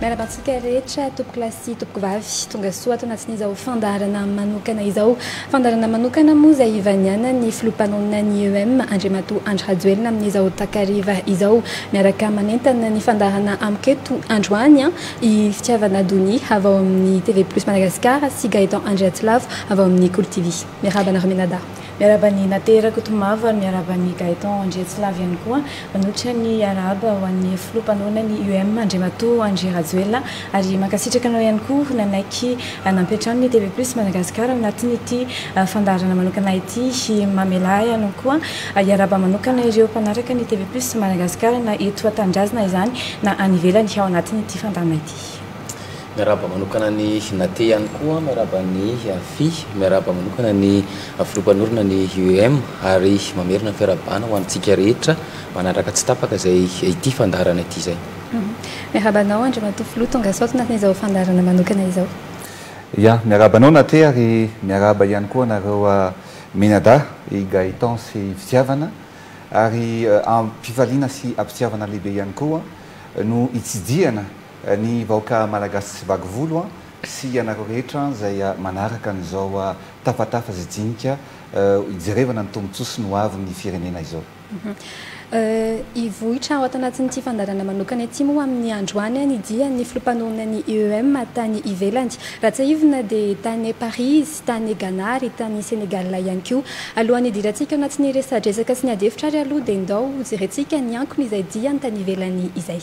Miarahaba antsika rehetra tompoko lahy sy tompoko vavy tonga soa ato anatin'izao fandaharana manokana izao. Fandaharana manokana moa izay ivanianan'ny filoha mpanonona ny EEM Andriamatoa Andry Rajoelina amin'izao takariva izao. Miaraka manentana ny fandaharana amiko eto androany i Fitiavana Donia avy ao amin'ny TV Plus Madagascar sy Gaëtan Andriatsylavo avy ao amin'ny Kolo TV. Miarahaba anareo mianadahy. Miarahaba ny Nate Rakotomavo ary miarahaba an'i Gaëtan Andriatsilavy ihany koa. Manolotra ny arahaba ho an'ny filoha mpanohana ny UM, Andriamatoa Andry Rajoelina, ary mankasitraka anao ihany koa nanaiky nampiantrano ny TV Plus Madagasikara ao anatin'ity fandaharana manokana ity. Mamelà ahy ianao koa hiarahaba manokana ireo mpanaraka ny TV Plus Madagasikara na eto an-tanindrazana izany na any ivelany ao anatin'ity fandaharana ity. Miarahaba manokana an'i Nathe ihany koa, miarahaba an'i Fi, miarahaba manokana ny Filoha Mpanorina ny UEM ary mamerina ny fiarahabana ho antsika rehetra manaraka tsy tapaka izay ity fandaharana ity izay. Miarahaba anao Andriamatoa Filoha, tonga sao tanatin'ny izao fandaharana manokana izao. Ya, miarahaba anao Nathe ary miarahaba ihany koa anareo mianadahy, i Gaëtan sy i Fitiavana ary am-pifaliana sy am-pitiavana lehibe ihany koa no itsidihana Ny vahoaka malagasy tsy vaky volo an! Sy ianareo rehetra izay manaraka an'izao tafatafa sy jinika hijerevana ny tombontsoa sy ny ho avin'ny firenena izao. Hivoitra ao anatin'ity fandaharana manokana ity moa amin'ny androany ny dian'ny filoha mpanohana ny IEM tany ivelany. Raha tsiahivina dia tany Paris izy, tany Ghana ary tany Sénégal ihany koa. Alohan'ny hidirantsika ao anatin'ny resadresaka sy ny ady hevitra ary aloha dia ndao hojerentsika ny ankony izay diany tany ivelany izay.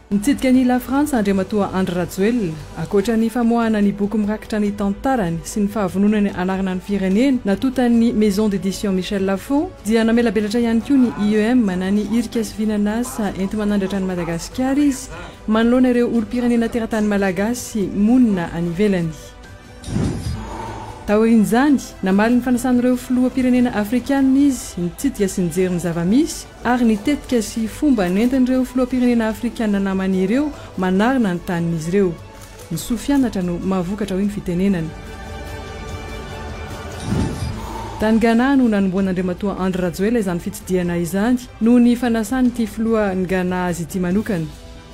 Nitsidika an'i La Frantsa Andriamatoa Andry Rajoelina. Ankoatra ny famoahana ny boky mirakitra ny tantarany sy ny fahavononany hanarina ny firenena, natontan'ny Maison d'édition Michel Lafon, dia namelabelatra ihany koa ny IEM na ny Irika sy Vinan'asa enti-manandratra an'i Madagasikara izy manoloana ireo olom-pirenena teratany malagasy monina any ivelany. Taorian'izany, namaly ny fanasan'ireo filoham-pirenena afrikanina izy nitsidika sy nijery ny zava-misy ary ny tetika sy fomba nentin'ireo filoham-pirenena afrikanina namany ireo manarina ny tanin'izy ireo. Ny soa fianatra no mahavokatra hoy ny fitenenana. Tany Ghana no nanombohan'Andriamatoa Andry Rajoelina izany fitsidihana izany noho ny fanasan'ity filohan'i Ghana azy ity manokana.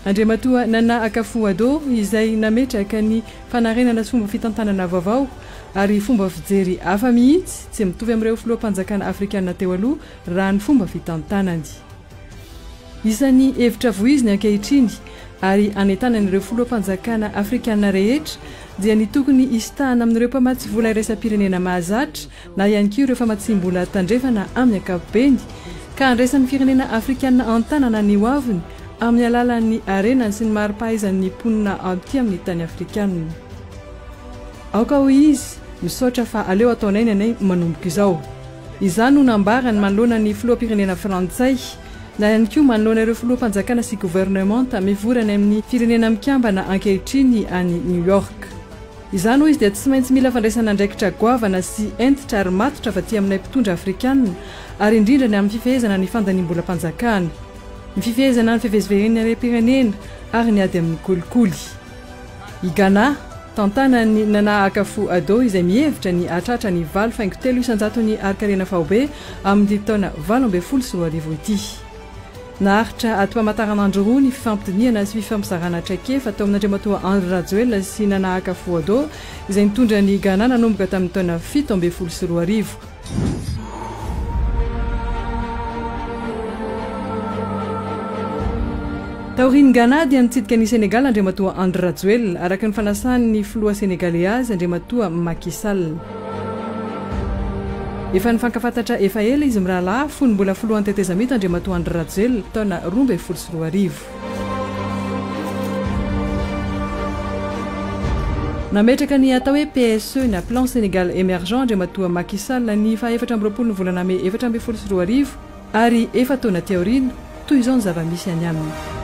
Andriamatoa Nana Akufo-Addo, izay nametraka ny fanarenana sy fomba fitantanana vaovao ary fomba fijery hafa mihitsy tsy mitovy amin'ireo filoham-panjakana afrikana teo aloha raha ny fomba fitantanany. Isan'ny hevitra voiziny ankehitriny ary hanentanany ireo filoham-panjakana afrikana rehetra dia ny tokony hisintahana amin'ireo mpamatsy vola iraisampirenena mahazatra na ihany koa ireo famatsiam-bola tandrefana amin'ny ankapobeny, ka handraisan'ny firenena afrikanina an-tanana ny hoaviny amin'ny alalan'ny harenany sy ny mari-pahaizan'ny mponina aty amin'ny tany afrikanina. Aoka hoy izy, misaotra fa aleo ataonay ny anay manomboka izao. Izany no nambarany manoloana ny filoham-pirenena frantsay, na ihany koa manoloana ireo filoham-panjakana sy governemanta mivory any amin'ny Firenena Mikambana ankehitriny any New York. Izany hoy izy dia tsy maintsy mila fandraisana andraikitra goavana sy hentitra ary matotra avy aty aminay mpitondra afrikanina ary indrindra ny amin'ny fifehezana ny fandaniam-bolam-panjakana, ny fifehezana ny fivezivezen'ny harem-pirenena ary ny ady amin'ny kolikoly. I Ghana, tantanan'i Nana Akufo-Addo izay mihevitra ny hahatratra ny valo faingo telo isan-jaton'ny harin-karena faobe amin'ity taona valo ambin'ny folo sy roa arivo ity. Naharitra ato Amataranandro roa ny fifampidinihana sy fifampizarana traikefa tao amin'Andriamatoa Henri Rajoelina sy Nana Akafo-Addo izay nitondra an'i Ghana nanomboka tamin'ny taona fito ambin'ny folo sy roa arivo. Taorian'i Ghana dia nitsidika an'i Senegal Andriamatoa Andry Rajoelina, araka ny fanasan'ny filoha Senegaley azy, Andriamatoa Macky Sall. Efa nifankafantatra efa ela izy mirahalahy fony mbola filohan'ny tetezamita Andriamatoa Andry Rajoelina, taona roa ambin'ny folo sy roa arivo. Nametraka ny atao hoe PSE na Plan Sénégal Émergent Andriamatoa Macky Sall ny faha efatra amby roapolo ny volana mey efatra ambin'ny folo sy roa arivo ary efa-taona aty aoriana, toy izao ny zava-misy any aminy.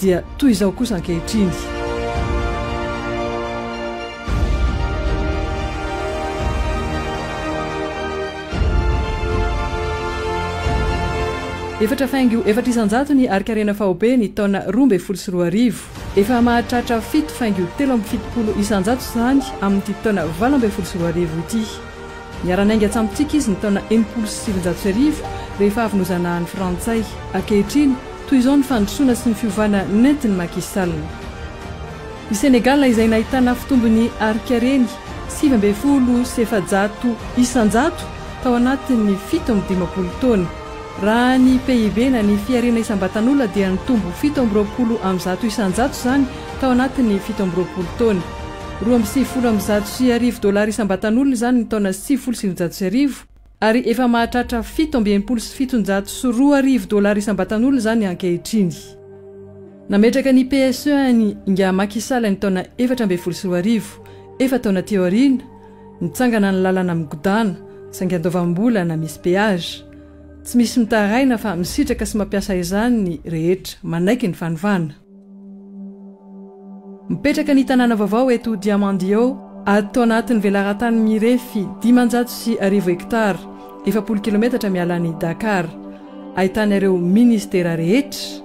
Dia toy izao kosa ankehitriny. Efatra faingo efatra isan-jato ny harin-karena faobe ny taona roa ambin'ny folo sy roa arivo. Efa mahatratra fito faingo telo amby fitopolo isan-jato izany amin'ity taona valo ambin'ny folo sy roa arivo ity. Niara-niainga tamintsika izy ny taona enimpolo sy sivinjato sy arivo, rehefa avy nozanahan'ny Frantsay. Ankehitriny, toy izao ny fandrosoana sy ny fiovana nentin'i Macky Sall. I Senegal, izay nahitana fitombon'ny harinkareny sivy ambin'ny folo sy efajato isanjato tao anatin'ny fito amby dimampolo taona. Raha ny PIB na ny fiharena isam-batan'olona dia nitombo fito amby roapolo amin'ny zato isanjato izany tao anatin'ny fito amby roapolo taona. Roa amby sivifolo amby zato sy arivo dollars isam-batan'olona izany ny taona sivifolo sy sivinjato sy arivo, ary efa mahatratra fito amby enimpolo sy fitonjato sy roa arivo dollars isam-batan'olona izany ankehitriny. Nametraka ny PSE an'i Ingahy Macky Sall ny taona efatra ambin'ny folo sy roa arivo, efa taona teo aoriana, nitsangana ny lalana migodàna, saingy andoavam-bolana misy péage. Tsy misy mitaraina fa misitraka sy mampiasa izany ny rehetra, manaiky ny fanovàna. Mipetraka ny tanàna vaovao eto Diamandio, ato anatin'ny velarantany mirefy dimanjato sy arivo hektara, efapolo kilometatra miala an'i Dakar. Ahitana ireo minisitera rehetra.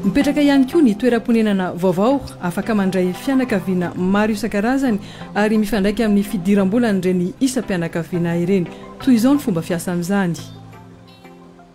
Mipetraka ihany koa ny toeram-ponenana vaovao, afaka mandray fianakaviana maro isan-karazany ary mifandraika amin'ny fidiram-bolan'ireny isam-pianakaviana ireny. Toy izao ny fomba fiasan'izany.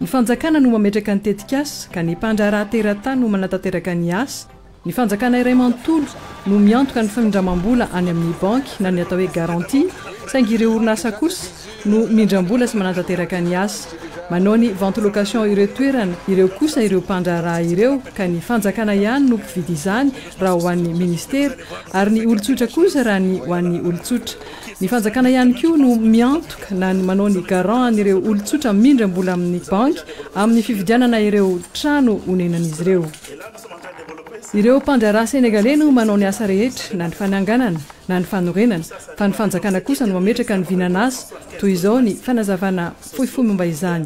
Ny fanjakana no mametraka ny tetikasa ka ny mpandraharaha teratany no manatanteraka ny asa. Ny fanjakana iray manontolo no miantoka ny famindramam-bola any amin'ny banky na ny atao hoe garantie, saingy ireo orinasa kosa no mindram-bola sy manatanteraka ny asa. Manao ny vente location ireo toerana ireo kosa ireo mpandraharaha ireo ka ny fanjakana ihany no mpividy izany raha ho an'ny ministera ary ny olon-tsotra kosa raha ny ho an'ny olon-tsotra. Ny fanjakana ihany koa no miantoka na ny manao ny garant an'ireo olon-tsotra mindram-bola amin'ny banky amin'ny fividianana ireo trano onenan'izy ireo. Ireo mpandraharaha Senegaley no manao ny asa rehetra, na ny fananganana, na ny fanorenana, fa ny fanjakana kosa no mametraka ny vinan'asa, toy izao ny fanazavana fohifohy momba izany.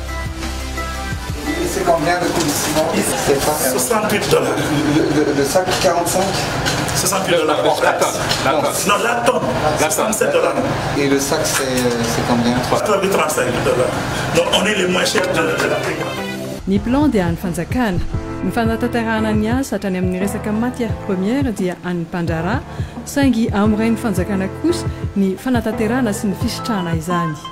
Ny plan dia an'ny fanjakana. Ny fanatanterahana ny asa hatrany amin'ny resaka matières premières dia an'ny mpandraharaha saingy amin'ny rain'ny fanjakana kosa ny fanatanterahana sy ny fisitrahana izany.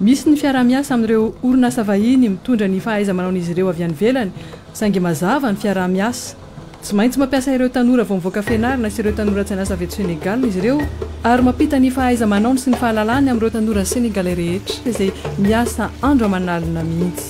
Misy ny fiaraha-miasa amin'ireo orinasa vahiny mitondra ny fahaiza-manaon'izy ireo avy any ivelany, saingy mazava ny fiaraha-miasa. Tsy maintsy mampiasa ireo tanora vao mivoaka fianarana sy ireo tanora tsy an'asa avy eto Senegal izy ireo, ary mampita ny fahaiza-manaony sy ny fahalalany amin'ireo tanora Senegalais rehetra izay miasa andro aman'alina mihitsy.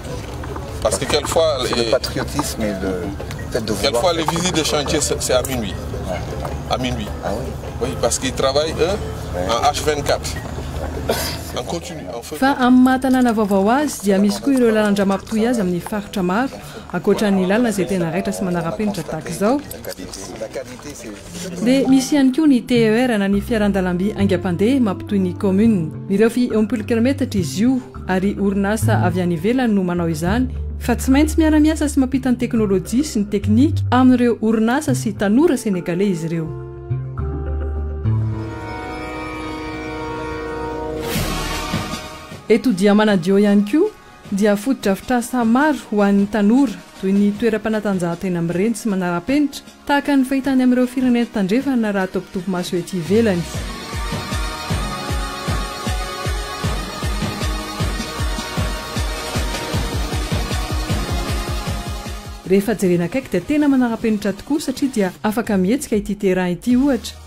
Fa amin'ny maha tanàna vaovao azy dia misy koa ireo lalan-drà mampitohy azy amin'ny faritra maro, ankoatra ny lalana izay tena raitra sy manara-penitra tahaka izao, Dia misy ihany koa ny TER na ny fiaran-dalamby haingam-pandeha mampitohy ny kaominina. Mirefy eo am-polo kilaometatra izy io ary orinasa avy any ivelany no manao izany fa tsy maintsy miara-miasa sy mampita ny teknolojia sy ny teknika amin'ireo orinasa sy tanora senegaley izy ireo. Eto dia manadio ihany koa. dia fotodrafitrasa maro ho an'ny tanora, toy ny toeram-panatanjahantena mireny sy manara-penitra, tahaka ny fahita any amin'ireo firenena tandrefana raha atao mpitopy-maso ety ivelany. Rehefa jerena akaiky dia tena manara-penitra tokoa satria dia afaka mihetsika ity terrain ity, ohatra,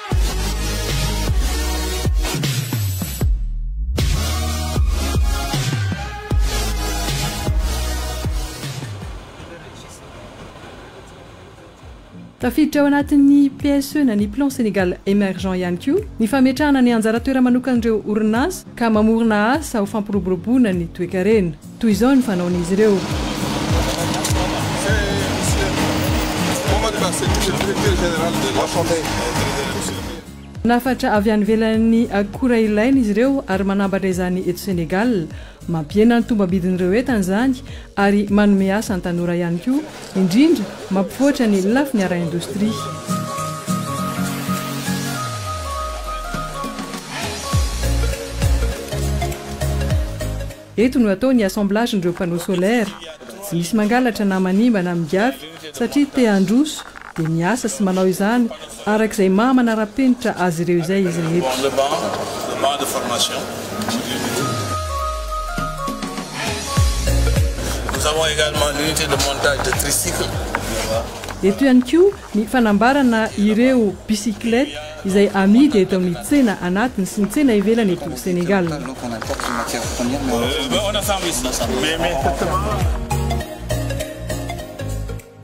Tafiditra ao anatin'ny PSE na ny Plan Sénégal Emergent ihany koa ny fametrahana ny anjara toera-manokan'ireo orinasa ka mamorona asa ho fampiroboroboana ny toekarena. Toy izao ny fanaon'izy ireo. Manafatra avy any ivelan'ny akora ilaina izy ireo ary manambatra izany eto Sénégal. Mampihena ny tombam-bidin'ireo entana izany ary manome asa ny tanora ihany koa, indrindra mampivoatra ny lafiny ara-indostria. Eto no atao ny assemblagen'ireo panneaux solaires. Tsy misy mangalatra na manimba na migafy satria te handroso dia miasa sy manao izany araka izay maha manara-penitra azy ireo izay izy rehetra. Eto ihany koa Ny fanambarana ireo bicyclette izay amidy eto amin'ny tsena anatiny sy ny tsena ivelany eto Senegal.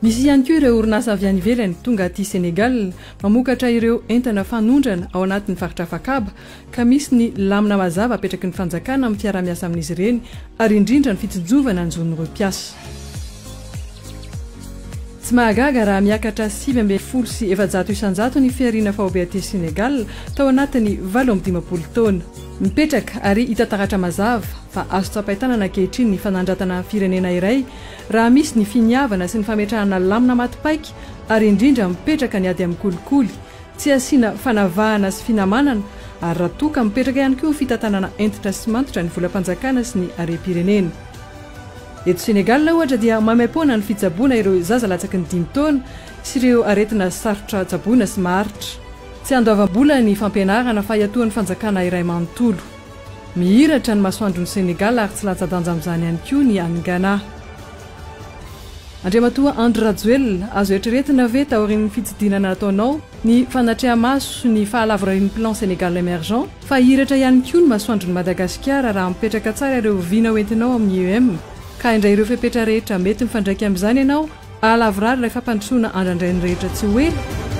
Misy ihany koa ireo orinasa avy any ivelany tonga aty Senegal mamokatra ireo entana fanondrana ao anatin'ny faritra Afakaba, ka misy ny lamina mazava apetraky ny fanjakana amin'ny fiaraha-miasa amin'izy ireny ary indrindra ny fitsinjovana ny zon'ireo mpiasa. Tsy mahagaga raha miakatra sivy ambin'ny folo sy efajato isanjato ny fihariana faobe aty Sénégal tao anatin'ny valo amby dimampolo taona. Mipetraka ary hita taratra mazava fa azo tsapain-tanana ankehitriny ny fanandratana firenena iray raha misy ny finiavana sy ny fametrahana lamina maty paika ary indrindra mipetraka ny ady amin'ny kolikoly Tsy asiana fanavahana sy finamanana ary raha toa ka mipetraka ihany koa fitantanana hentitra sy matotra ny volam-panjakana sy ny harem-pirenena. Eto Sénégal ohatra dia maimaim-poana ny fitsaboana ireo zaza latsaky ny dimy taona sy ireo aretina sarotra tsaboina sy maharitra. Tsy andoavam-bola ny fampianarana fa iatoan'ny fanjakana iray manontolo. Mihiratra ny masoandron'i Sénégal ary tsy latsa-danja amin'izany ihany koa ny any Ghana. Andriamatoa Andry Rajoelina, azo eritreretina ve taorian'ny fitsidinana ataonao ny fanatreha-maso ny fahalavorarian'ny Plan Sénégal Emergent fa hihiratra ihany koa ny masoandron'i Madagasikara raha mipetraka tsara ireo vina hoentinao amin'ny IEM ka haindray ireo fepetra rehetra mety mifandraika amin'izany ianao hahalavorary ilay fampandrosoana andrandrain'ny rehetra tsy ho ela?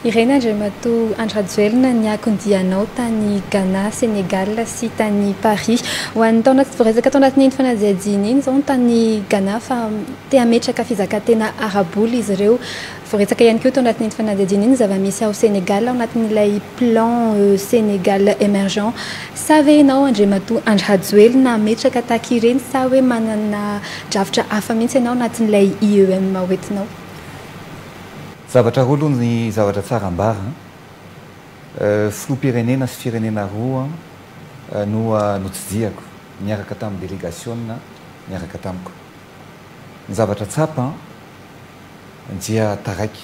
Ireny Andriamatoa Andry Rajoelina ny akondianao tany Ghana, Sénégal sy tany Paris. Ho an'ny taona tsy voaresaka tao anatin'iny fanadihadiana iny izao ny tany Ghana fa te hametraka fizakantena ara-bola izy ireo. Voaretsaka ihany koa tao anatin'iny fanadihadiana iny ny zava-misy ao Sénégal ao anatin'ilay plan Sénégal Emergent. Sa ve ianao Andriamatoa Andry Hajoelina hametraka tahaka ireny sa hoe manana drafitra hafa mihitsy ianao anatin'ilay IEM ho entinao? Zavatra roa aloha ny zavatra tsara ambara an! Filoham-pirenena sy firenena roa no notsidihako niaraka tamin'ny delegasiona niaraka tamiko. Ny zavatra tsapa dia taraiky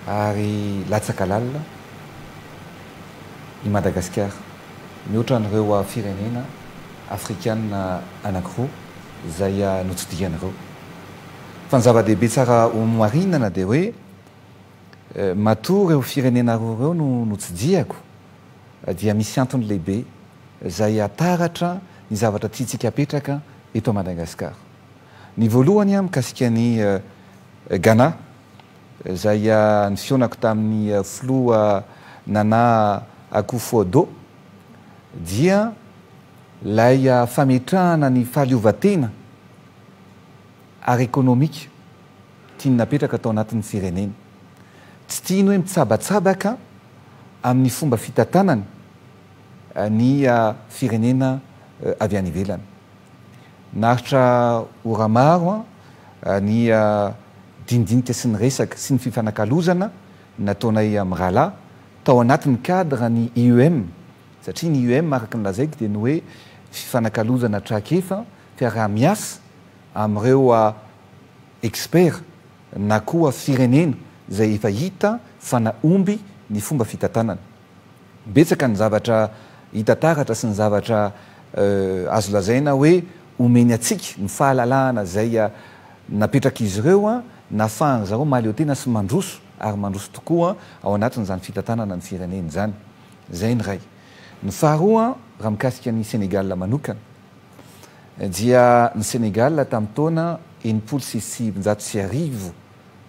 ary latsaka lalina i Madagasikara, mihoatra an'ireo firenena afrikana anankiroa izay notsidihany ireo. Fa ny zava-dehibe tsara homarinana dia hoe matoa ireo firenena roa ireo no notsidihako dia misy antony lehibe izay hataratra ny zavatra tiantsika hapetraka eto Madagasikara. Ny voalohany mikasika an'i Ghana, izay nifihaonako tamin'ny filoha Nana Akufo-Addo, dia ilay fametrahana ny fahaleovantena ara-ekonomika tiany napetraka tao anatin'ny fireneny. Tsy tiany hoe mitsabatsabaka amin'ny fomba fitantanany. ny firenena avy any ivelany. Naharitra ora maro ny dinidinika sy ny resaka sy ny fifanakalozana nataonay mirahalahy tao anatin'ny cadre ny IEM satria ny IEM araka ny lazaiko dia ny hoe fifanakalozana traikefa, fiaraha-miasa amin'ireo expert na koa firenena izay efa hita fa nahomby ny fomba fitantanana. Betsaka ny zavatra hita taratra sy ny zavatra azo lazaina hoe omeny antsika, ny fahalalahana izay napetrak'izy ireo nahafahan-dry zareo mahaleotena sy mandroso ary mandroso tokoa ao anatin'izany fitantanana ny firenena izany. Izay ny iray. Ny faharoa, raha mikasika an'i Sénégal manokana dia ny Sénégal tamin'ny taona enimpolo sy sivinjato sy arivo,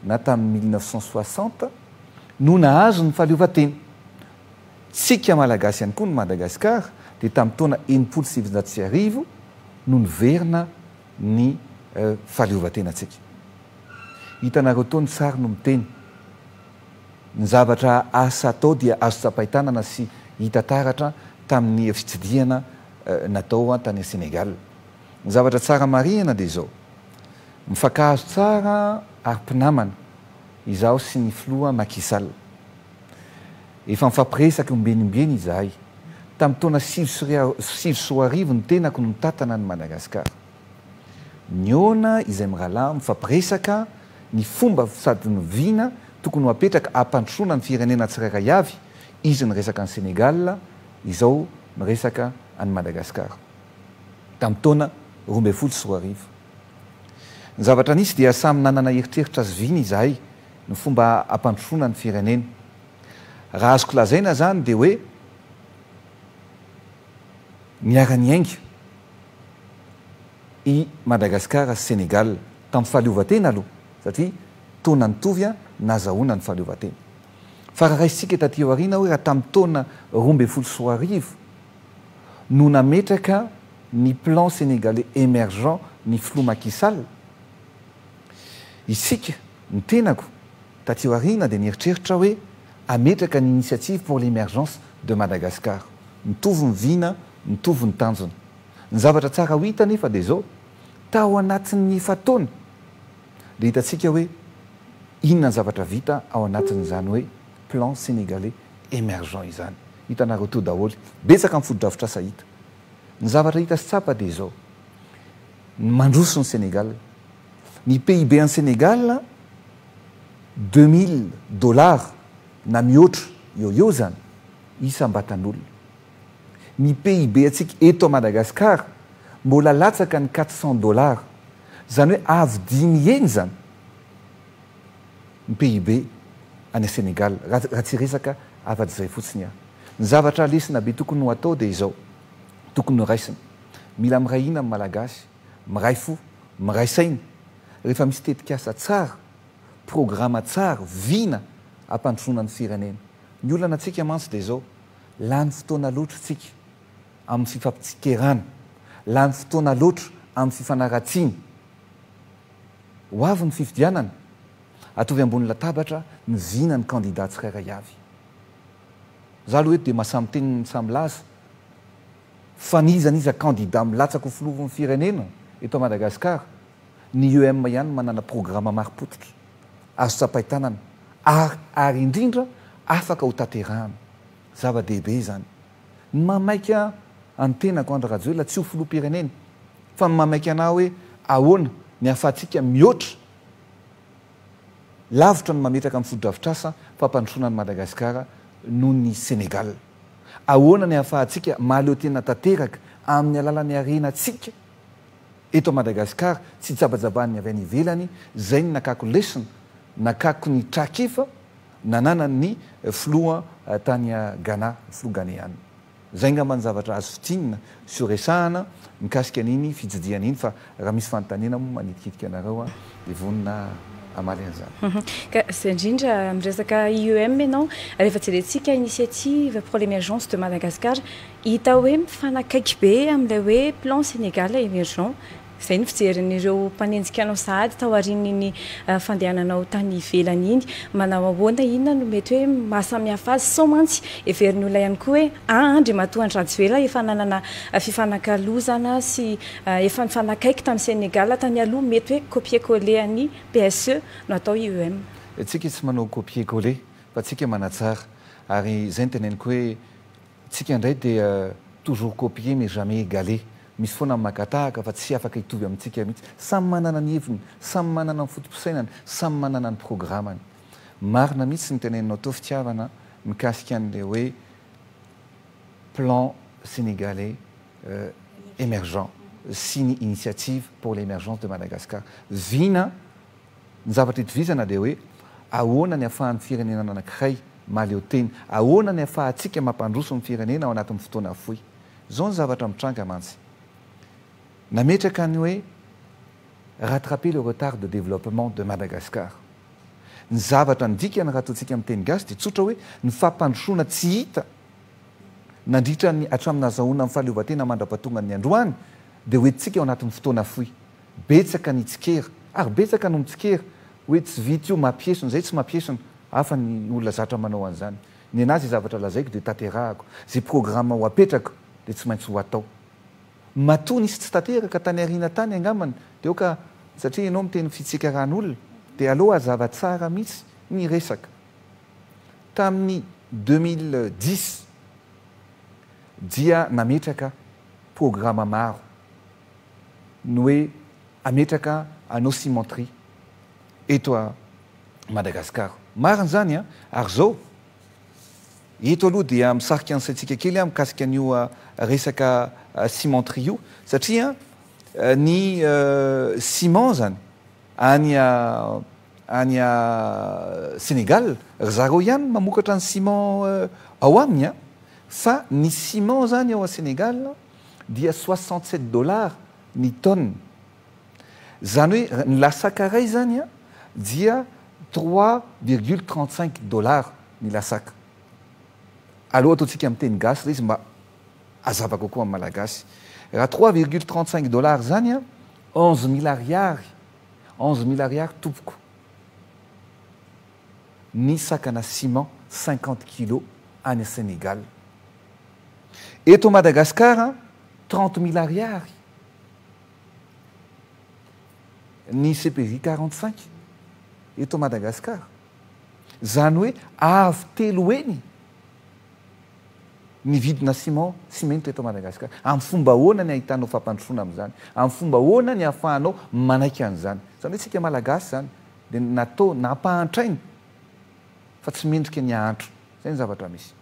na tamin'ny mille neuf cent soixante no nahazo ny fahaleovantena. Tsika Malagasy ihany koa ny Madagasikara dia tamin'ny taona enimpolo sy sivinjato sy arivo no niverina ny fahaleovantenantsika. Hitanareo tao ny sary no miteny. Ny zavatra asa atao dia azo tsapain-tanana sy hita taratra tamin'ny fitsidihana natao tany Sénégal. Ny zavatra tsara marihina dia izao, mifankahazo tsara ary mpinamana izaho sy ny filoha Macky Sall. Efa mifampiresaka ombieny ombieny izahay. Tamin'ny taona sivy sy sivy sy roa arivo ny tenako no nitantana an'i Madagasikara. Nihaona izay mirahalahy mifampiresaka ny fomba sady ny vina tokony ho apetraka hampandrosoana ny firenena tsirairay avy, izy niresaka an'i Sénégal, izao miresaka an'i Madagasikara. tamin'ny taona roa ambin'ny folo sy roa arivo. Ny zavatra nisy dia samy nanana eritreritra zoviana izahay ny fomba hampandrosoana ny firenena. Raha azoko lazaina izany dia hoe niara-niainga i Madagasikara sy Senegal tamin'ny fahaleovantena aloha satria taona nitovy nahazahoana ny fahaleovantena. Fa raha raisintsika taty aoriana hoe raha tamin'ny taona roa ambin'ny folo sy roa arivo, no nametraka ny Plan Sénégalais Emergent ny Filoha Macky Sall, isika, ny tenako, taty aoriana dia nieritreritra hoe hametraka ny Initiative pour l'Emergence de Madagascar. Mitovy ny vina, mitovy ny tanjona. Ny zavatra tsara ho hita anefa dia izao, tao anatin'ny efa-taona dia hitantsika hoe inona ny zavatra vita ao anatin'izany hoe Plan Sénégalais emergents izany. Hitanareo to daholo. Betsaka ny fotodrafitrasa hita. Ny zavatra hita sy tsapa dia izao. Mandroso ny Sénégal. Ny PIB an'i Sénégal, deux mille dollars na mihoatra eo ho eo izany isam-batan'olona. Ny PIB antsika eto Madagascar mbola latsaka ny quatre cents dollars. Izany hoe avo dimy heny izany. ny PIB any Senegal raha tsy resaka afa-dizay fotsiny aho. Ny zavatra lesona be tokony ho atao dia izao, tokony ho raisina. Mila miray hina ny Malagasy, miray fo, miray saina rehefa misy tetikasa tsara, programa tsara, vina hampandrosoana ny firenena. Ny olana antsika mantsy dia izao, lany fotoana loatra isika amin'ny fifampitsikerana, lany fotoana loatra amin'ny fifanaratsiana. Ho avy ny fifidianana, atovy ambony latabatra ny vina ny kandida tsirairay avy. Za aloha eto dia maha samy teny ny samy laza fa n'iza n'iza kandida milatsaka ho filohan'ny firenena eto Madagascar, ny UEM ihany manana programa mari-pototra, azo tsapain-tanana ary ary indrindra afaka ho tanterahana. Zava-dehibe izany. Ny maha maika an ny tenako Andry Rajoelina tsy ho filoham-pirenena fa ny maha maika anah hoe ahoana ny ahafahantsika mihoatra lavitra ny mametraka ny fotodrafitrasa fampandrosoana an'i Madagasikara noho ny Senegal. Ahoana ny ahafahantsika mahaleo tena tanteraka amin'ny alalan'ny harenantsika eto Madagasikara tsy jabajabàn'ny avy any ivelany, izay ny nakako lesona, nakako ny trakifa, nananany ny filoha tany Ghana, filoha Ghaneana. Izay angamba ny zavatra azo fintinina sy ho resahana mikasika an'iny fitsidihana iny fa raha misy fanontaniana moa manitikitika anareo aho dia vonona hamaly an'izany. Ka izay indrindra, miresaka IEM ianao, rehefa jerentsika initiative pour l'emergence de Madagascar, hita hoe mifanakaiky be amin'ilay hoe plan Sénégal émergent Izay ny fijerin'ireo mpanenjika anao sahady tao aorian'iny fandehananao tany ivelany iny. Manao ahoana, inona no mety hoe mahasamihafa azy? Sao mantsy heverin'ny olona ihany koa hoe an! Andriamatoa Andry Rajoelina efa nanana fifanakalozana sy efa nifanakaiky tamin'i Sénégal tany aloha, mety hoe copier coller an'i PSE no atao i EM. Tsika tsy manao copier coller fa tsika manatsara ary izay no teneniko hoe, Tsika ndray dia toujours copier mais jamais égaler, misy foana magatahaka fa tsy afaka hitovy amintsika mihitsy. Samy manana ny heviny, samy manana ny fotopisainany, samy manana ny programany. Marina mihitsy ny teneninao teo fitiavana mikasika an'ilay hoe plan sénégalais emergent sy ny initiative pour l'émergence de Madagascar. Vina. Ny zavatra itovizana dia hoe ahoana ny afahan'ny firenena anankiray mahaleo tena, ahoana ny afahantsika mampandroso ny firenena ao anatin'ny fotoana fohy. Izao ny zavatra mitranga mantsy. Nametraka ny hoe rattraper le retard de développement de Madagascar. Ny zavatra ny dikany raha ataontsika amin'ny teny gasy dia tsotra hoe ny fampandrosoana tsy hita nandritra ny hatramin'ny nahazahoana ny fahaleovantena mandra-pahatongan'ny androany dia hoentintsika ao anatin'ny fotoana fohy. Betsaka ny tsikera ary betsaka no mitsikera hoe tsy vita io, mampiesona izay tsy mampiesona hafa ny olona zatra manao an'izany. Nenaha izay zavatra lazaiko dia tanterahako, izay programa ho apetrako dia tsy maintsy ho atao. Matoa nisy tsy tanteraka tany aoriana tany angambany dia aoka satria ianao miteny fitsikaran'olona dia aleo hazava tsara mihitsy ny resaka. Tamin'ny deux mille dix dia nametraka programa maro. ny hoe hametraka anneau cimenterie eto Madagascar. Marina izany an! Ary izao, eto aloha dia misarika ny saintsika kely an, mikasika an'io resaka cimenterie io, satria ny ciment izany any any Sénégal, ry zareo ihany no mamokatra ny ciment ao aminy an! Fa ny ciment izany ao Sénégal, dia soixante sept dollars ny tonne. Izany hoe ny lasaka iray izany dia trois virgule trente cinq dollars ny lasaka. Aleo ataontsika amin'ny teny gasy ilay izy mba hazava kokoa amin'ny Malagasy. Raha trois virgule trente cinq dollars izany, onze mille ariary, onze mille ariary tompoko. ny sakana ciment cinquante kilos any Senegal. Eto Madagascar trente mille ariary ny CPJ quarante cinq eto Madagascar. Zany hoe avo telo heny ny vidina ciment simenitra eto Madagascar. Amin'ny fomba ahoana ny ahitanao fampandrosoana amin'izany? Amin'ny fomba ahoana ny ahafahanao manaiky an'izany? Zany hoe tsika Malagasy zany Dia ny natao, nampahantrainy fa tsy mendrika ny hahantra. Izay ny zavatra misy.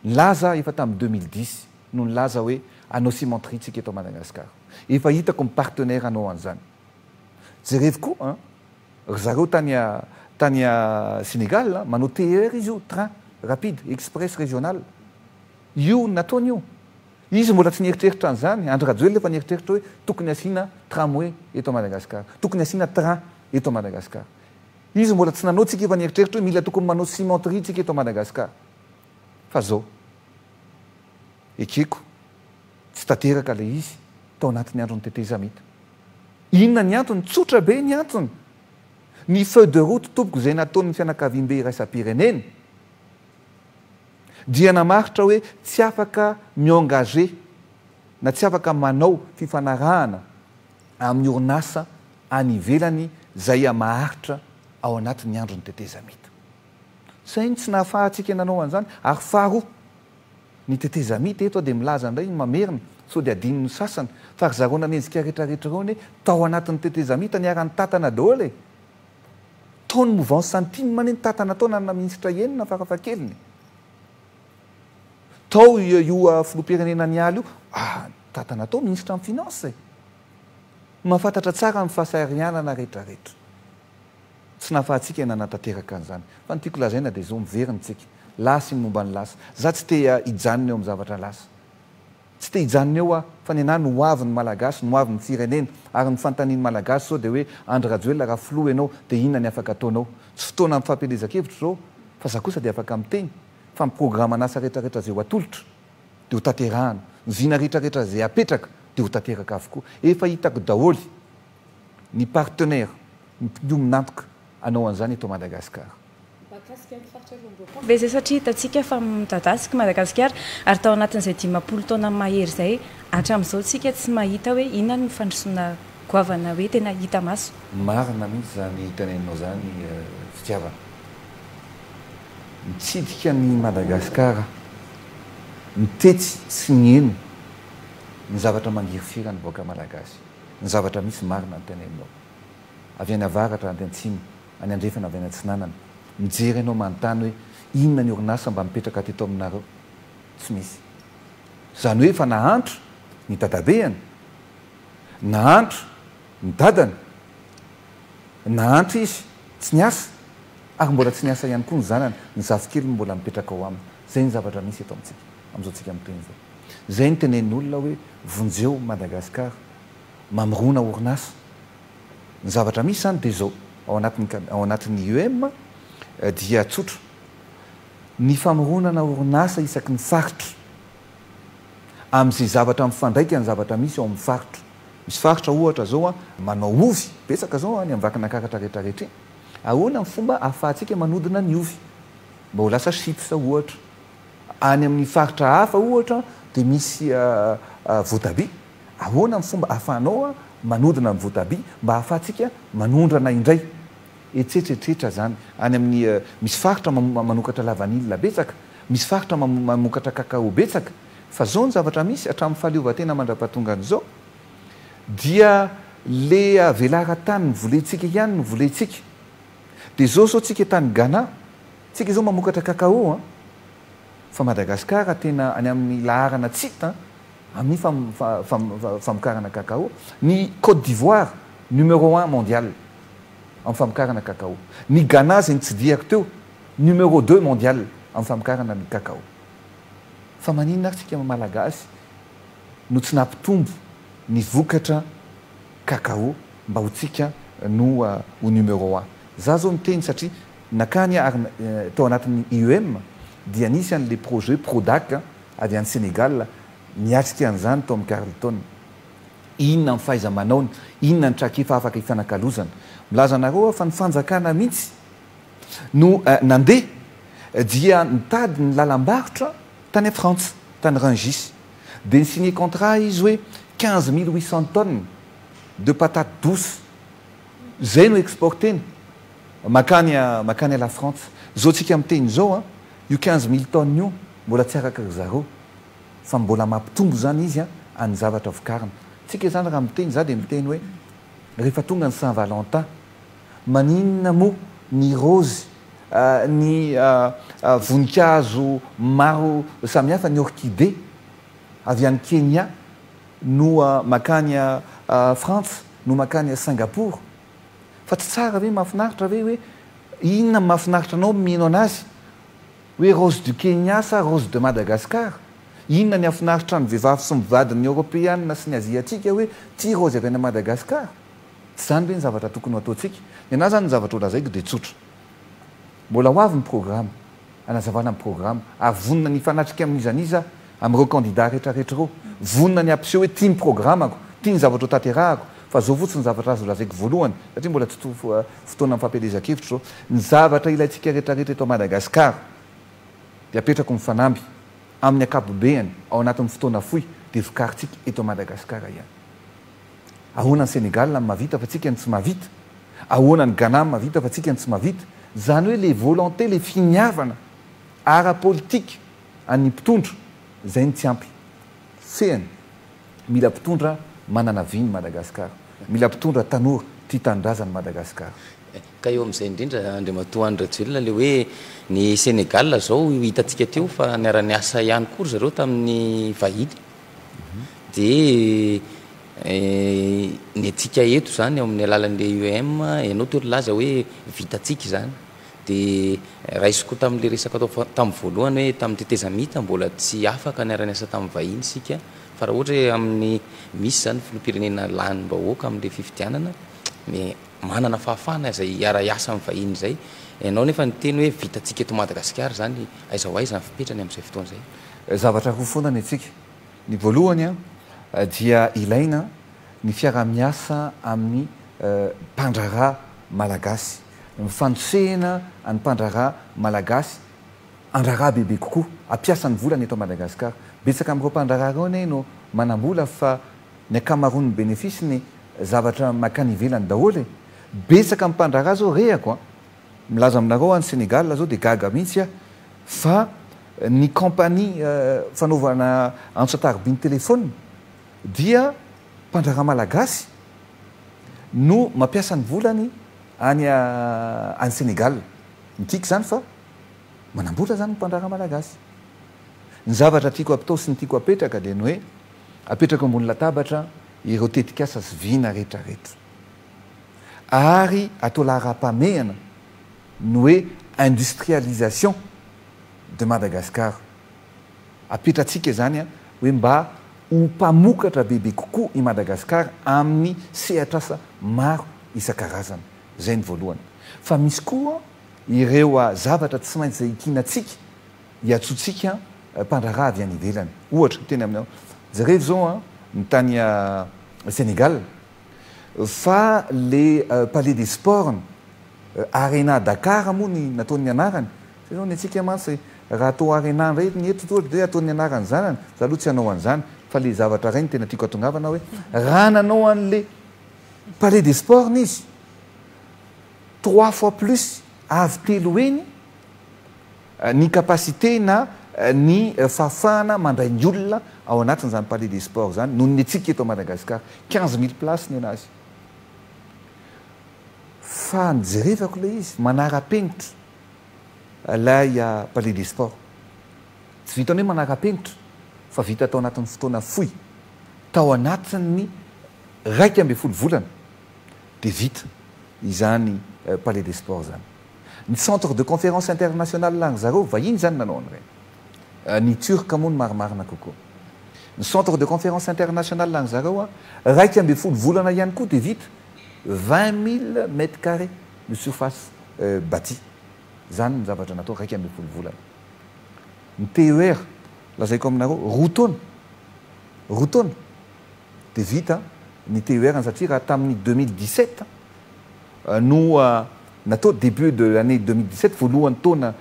Nilaza efa tamin'ny deux mille dix no nilaza hoe hanao cimenterie tsika eto Madagasikara. Efa hitako ny partenaire hanao an'izany. Jerevo koa an! Ry zareo tany tany Sénégal an, manao TER izy io, train rapide, express régional. Io ny nataony io. Izy mbola tsy nieritreritra an'izany, Andry Rajoelina efa nieritreritra hoe tokony hasiana tramway eto Madagascar, tokony hasiana train eto Madagascar. Izy mbola tsy nanao, tsika efa nieritreritra hoe mila tokony manao cimenterie tsika eto Madagascar. Fa zao. Ekeko, tsy tanteraka ilay izy, tao anatin'ny andron'ny tetezamita. Inona ny antony? Tsotra be ny antony. Ny feuille de route tompoko izay nataon'ny fianakaviambe iraisam-pirenena, Dia namaritra hoe tsy afaka mi-engager na tsy afaka manao fifanarahana amin'ny orinasa any ivelany Zaïa maharitra ao anatin'ny andron'ny tetezamita. Saingy tsy nahafahantsika nanao an'izany ary faharoa, ny tetezamita eto dia milaza indray mamerina sao dia adinon'ny sasany fa ry zareo nanenjika retraretra ireo anie tao anatin'ny tetezamita niara-nitantana daholo e! Tao ny movansy Santim anie nitantana atao nanana minisitra enina farafahakeliny. Tao io filoham-pirenena niala io ah nitantana tao minisitra amin'ny finance e. Mahafantatra tsara ny fahasahirianana retraretra. Tsy nahafahantsika ny nanatanteraka an'izany. Fa ny tiako lazaina dia izao miverina isika. Lasa iny momba ny lasa. Za tsy te hijanona eo amin'ny zavatra lasa. Tsy te hijanona eo aho fa nenaha no hoavy ny Malagasy, no hoavy ny Firenena ary ny fantanin'ny Malagasy izao dia hoe Andry Rajoelina raha Filoha ianao dia inona ny afaka ataonao? Tsy fotoana ampifampelezan-kevitra izao fa za kosa dia afaka miteny fa miprograma ny asa retraretra izay ho atolotra dia ho tanterahana, ny vina retraretra izay apetraka dia ho tanteraka avokoa. Efa hitako daholo ny partenaires mpiombon'antoka hanao an'izany eto Madagasikara. Mahakasika ny faritra Riomboko ve izay satria hitantsika fa midadasika i Madagasikara ary tao anatin'izay dimampolo taona mahery izay hatramin'izao tsika tsy mahita hoe inona no fandrosoana goavana hoe tena hita maso. Marina mihitsy izany teneninao izany Fitiavana. Mitsidika an'i Madagasikara, mitetsy sy mieno ny zavatra mangirifira ny vahoaka Malagasy. Ny zavatra misy marina ny teneninao. Avy any avaratra, any atsimo, any andrefana avy any atsinanana mijery anao manontany hoe inona ny orinasa mba mipetraka teto aminareo? Tsy misy. Izany hoe efa nahantra ny dadabeany, nahantra ny dadany, nahantra izy tsy niasa ary mbola tsy niasa ihany koa ny zanany, ny zafikeliny mbola mipetraka ao aminy. Izay ny zavatra misy eto amintsika amin'izao tsika mitohina izao. Izay ny tenenin'olona hoe vonjeo Madagascar mamirona orinasa. Ny zavatra misy izany dia izao, ao anatin'ny cad, ao anatin'ny IEM dia tsotra, ny famoronana orinasa isaky ny faritra, amin'izay zavatra mifandraika amin'ny zavatra misy ao amin'ny faritra. Misy faritra ohatra izao manao ovy betsaka izao any amin'ny Vakinankaratra rehetra rehetra iny, ahoana ny fomba ahafahantsika manodina ny ovy mba ho lasa chips ohatra? Any amin'ny faritra hafa ohatra dia misy voatabia. Ahoana ny fomba ahafahanao manodina ny voatabia mba ahafahantsika manondrana indray? Hetsetsy etretra izany any amin'ny misy faritra manokatra lavanila betsaka, misy faritra mamokatra cacao betsaka, fa izao ny zavatra misy hatramin'ny fahaleovantena mandrapahatonga an'izao dia le velara tany volentsika ihany no volentsika dia izao izao tsika tany Ghana tsika izao mamokatra cacao an! fa Madagascar tena any amin'ny laharana tsy hita an! amin'ny famokarana cacao, ny Côte d'Ivoire numéro un mondial amin'ny famokarana cacao, ny Ghana izay nitsidihako teo numéro deux mondial amin'ny famokarana ny cacao. Fa maninona ary tsika Malagasy no tsy nampitombo ny vokatra cacao mba ho tsika no ho numéro un? Za zao miteny satria nakany ary tao anatin'ny IEM dia nisy an'le projet Prodac avy any Senegal miatrika an'izany Tom Carlton. Inona ny fahaiza-manaony? Inona ny trakefa afaka hifanakalozana? Milaza anareo aho fa ny fanjakana mihitsy no nandeha dia nitady ny lalam-barotra tany Frantsa, tany Rungis. Dia ni-signer contrat izy hoe quinze mille huit cents tonnes de patates douces. Izay no exporter-ny mankany mankany à la Frantsa. Izao tsika miteny izao an! Io quinze mille tonnes io mbola tsy araka ry zareo fa mbola mampitombo izany izy an'ny zavatra vokarina. Tsika izany raha miteny za dia miteny hoe rehefa tonga ny saint valentin maninona moa ny raozy ny voninkazo maro samihafa ny orchidée avy any Kenya no makany frantsa no makany singapour Fa tsy tsara ve, mahafinaritra ve hoe inona no mahafinaritra anao mino anazy? Hoe rose du Kenya sa rose de Madagascar? Inona ny hafinaritra ny vehivavy sy mivady ny Eoropeana sy ny Aziatika hoe tia raozy avy any Madagascar? Tsy izany ve ny zavatra tokony ho ataontsika? Ny anahy izany ny zavatra ho lazaiko dia tsotra. Mbola ho avy ny programa. hanazavana ny programa ary vonona ny hifanatrika amin'izan'iza amin'ireo kandida retraretra ireo. Vonona ny hampiseho hoe tia ny programako, tia ny zavatra hotanterahako, fa izao fotsiny ny zavatra azo lazaiko voalohany, satria mbola tsy fotoanan'ny fampielezan-kevitra izao, ny zavatra ilaintsika retraretra eto Madagasikara dia apetrako ny fanamby, amin'ny ankapobeany, ao anatin'ny fotoana fohy, dia vokarintsika eto Madagasikara ihany. Ahoana ny Senegal no mahavita fa tsika no tsy mahavita? Ahoana ny Ghana no mahavita fa tsika no tsy mahavita? Izany hoe ilay volonté, ilay finiavana ara-politika an'ny mpitondra, izay no tsy ampy. Fehiny. Mila mpitondra manana vy ny Madagascar. Mila mpitondra tanora tia tanindrazany Madagascar. Ka eo amin'izay indrindra, Andriamatoa Andry Rajoelina, ilay hoe ny Senegal izao hitantsika teo fa niara-niasa ihany koa ry zareo tamin'ny vahiny. Dia ny antsika eto izany ao amin'ny alalan'ilay IEM, ianao toa nilaza hoe vitantsika izany. Dia raisiko tamin'ilay resaka tao fa- tamin'ny voalohany hoe tamin'ny tetezamita mbola tsy afaka niara-niasa tamin'ny vahiny isika, fa raha ohatra hoe amin'ny misy izany filoham-pirenena lany vahoaka amin'ilay fifidianana, dia manana fahafahana izay hiara-hiasa amin'ny vahiny izay. Ianao anefa niteny hoe vitantsika eto Madagasikara izany, aiza ho aiza ny fipetrany amin'izay fotoana izay? Zavatra roa foana ny antsika. Ny voalohany dia ilaina ny fiaraha-miasa amin'ny mpandraharaha malagasy. Ny fanosehana an'ny mpandraharaha malagasy handraharaha bebe kokoa, hampiasa ny volany eto Madagasikara. Betsaka amin'ireo mpandraharaha ireo anie no manam-bola fa ny ankamaroan'ny benefisiny zavatra mankany ivelany daholo e! Betsaka amin'ny mpandraharaha izao rehako an! Milaza aminareo any Sénégal zao dia gaga mihitsy aho fa ny compagnie fanaovana antso an-tarobin'ny téléphone dia mpandraharaha malagasy no mampiasa ny volany any any Sénégal. Midika izany fa manambola izany ny mpandraharaha malagasy. Ny zavatra tiako apitao sy ny tiako apetraka dia ny hoe apetrako ambony latabatra ireo tetikasa sy vina rehetra rehetra. ary atao laharam-pahamehana ny hoe industrialisation de Madagascar. Apetratsika izany hoe mba ho mpamokatra bebe kokoa i Madagascar amin'ny sehatr'asa maro isan-karazany. Izay ny voalohany. Fa misy koa ireo zavatra tsy maintsy izay ikinantsika, iantsoantsika mpandraharaha avy any ivelany. Ohatra, teny aminao, jereo izao ny tany Sénégal. Fa le palais des sports, arena Dakar moa ny nataon'ny anarany? Zay zao ny antsika mantsy raha atao arena ndray ny eto ohatra dia ataon'ny anaran'ny zanany, za aloha tsy hanao an'zany fa le zavatra ray no tena tiako atongavana hoe raha nanao an'le palais des sports izy trois fois plus avy telo heny Ny capacité na ny fahafahana mandray ny olona ao anatin'izany palais des sports izany noho ny antsika eto Madagasikara quinze mille places ny anazy fa ny jerevako ilay izy manara-penitra ilay palais des sports tsy vitan'ny hoe manara-penitra fa vita tao anatin'ny fotoana fohy tao anatin'ny iraika ambin'ny folo volana dia vita izany palais des sports izany. Ny centre de conférence international any zareo vahiny zany nanao an'ireny. Ny turc moa no marimarina kokoa. Ny centre de conférence international any zareo an, iraika ambin'ny folo volana ihany koa dia vita. Vingt mille mètres carrés no surface batie. Zany ny zavatra natao iraika ambin'ny folo volana. Ny TER lazaiko aminareo roa taona. Roa taona. dia vita ny TER-ny satria raha tamin'ny deux mille dix sept no natao, début de l'année deux mille dix sept, voalohan'ny taona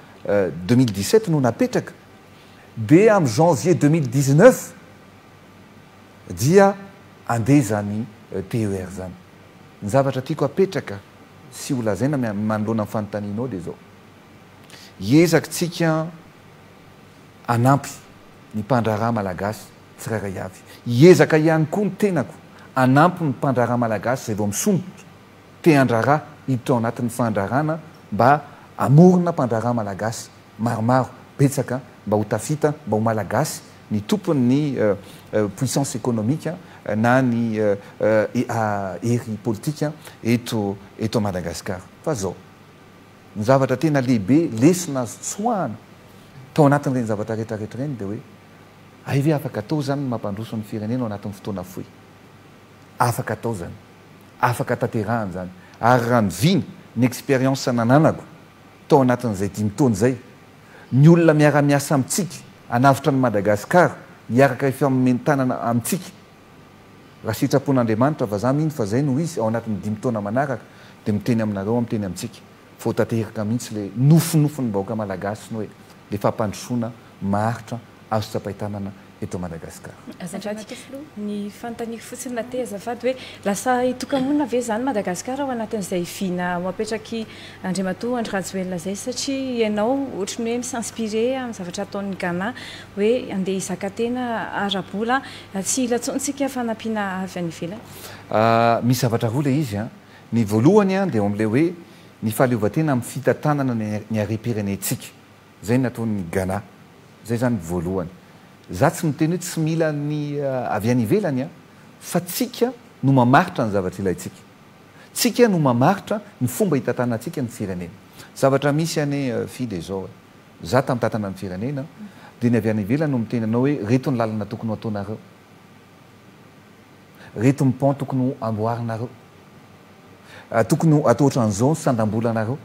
deux mille dix sept no napetraka dia amin'ny janvier deux mille dix neuf dia andeha izany TER izany. Ny zavatra tiako hapetraka sy holazaina manoloana ny fanontanianao dia izao, hiezaka tsika, hanampy ny mpandraharaha malagasy tsirairay avy. Hiezaka ihany koa ny tenako hanampy ny mpandraharaha malagasy izay vao misondrotra te handraharaha hiditra ao anatin'ny fandraharahana mba hamorona mpandraharaha malagasy maromaro, betsaka mba ho tafita, mba ho malagasy ny tompon'ny puissance économique na ny hery politika eto Madagasikara. Fa zao. Ny zavatra tena lehibe, lesona azo tsoahana tao anatin'ireny zavatra retraretra ireny dia hoe, hay ve afaka atao izany ny mampandroso ny firenena ao anatin'ny fotoana fohy? Afaka atao izany, afaka tanterahina izany. Ary raha ny vina, ny expérience nananako tao anatin'izay dimy taona izay, ny olona miara-miasa amintsika hanavotra an'i Madagasikara, hiaraka hifamomen-tanana amintsika, Raha sitrapon'Andriamanitra, vazaha mino fa zay no izy, ao anatin'ny dimy taona manaraka dia miteny aminareo aho, miteny amintsika, fa ho tanteraka mihitsy le nofinofiny vahoaka Malagasy ny hoe le fampandrosoana maharitra azo tsapain-tanana eto Madagascar. Azafady, ny fanontaniako fotsiny na te azafady hoe lasa hitoka-monina ve zany Madagascar ao anatin'izay vina ho apetrak'i Andriamatoa Andry Rajoelina zay satria ianao ohatry ny hoe mi-s'inspirer amin'ny zavatra ataon'ny Ghana hoe andeha hizaka tena ara-bola Tsy hila tsony tsika fanampiana avy any ivelany. Misy zavatra roa ilay izy an! Ny voalohany an dia eo amin'ilay hoe ny fahaleovantena amin'ny fitantanana ny harem-pirenentsika. Izay no nataon'i Ghana. Izay izany ny voalohany. Izaho tsy miteny hoe tsy mila ny avy any ivelany an! Fa tsika no mamaritra ny zavatra ilaintsika. Tsika no mamaritra ny fomba hitantanantsika ny firenena. Zavatra misy anie Fy dia izao e! Za tantatana ny firenena dia ny avy any ivelany no miteny anao hoe reto ny lalana tokony ho ataonareo, reto ny pont tokony ho amboarinareo, tokony ho atao otran'izao ny sandam-bolanareo.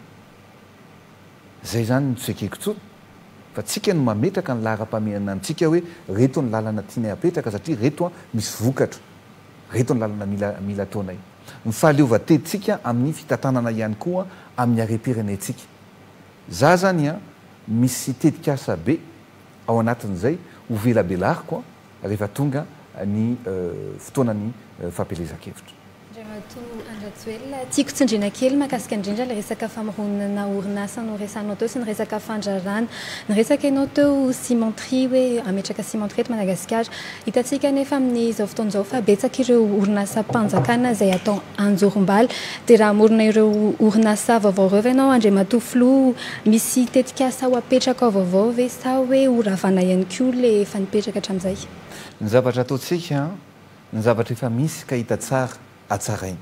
Zay zany no tsy ekeko tsony fa tsika no mametraka ny laharam-pahamehana antsika hoe reto ny lalana tianay apetraka satria reto misy vokatra, reto ny lalana mila mila ataonay. Ny fahaleovan-tentsika amin'ny fitantanana ihany koa amin'ny harem-pirenetsika. Za zany an misy tetikasa be ao anatin'izay ho velabelariko an rehefa tonga ny fotoanan'ny fampielezan-kevitra. Andriamatoa Andry Rajoelina, tiako tsindriana kely mahakasika indrindra ilay resaka famoronana orinasa noresahinao teo sy ny resaka fandraràna. Niresaka ianao teo cimenterie hoe hametraka cimenterie eto Madagasikara. Hitantsika anefa amin'izao fotoana izao fa betsaka ireo orinasam-panjakana izay atao anjorom-bala. Dia raha hamorona ireo orinasa vaovao ireo ve ianao Andriamatoa Filoha? Misy tetikasa ho apetrakao vaovao ve sa hoe ho ravana ihany koa ilay efa nipetraka hatramin'izay? Ny zavatra ataontsika, ny zavatra efa misy ka hita tsara hatsaraina.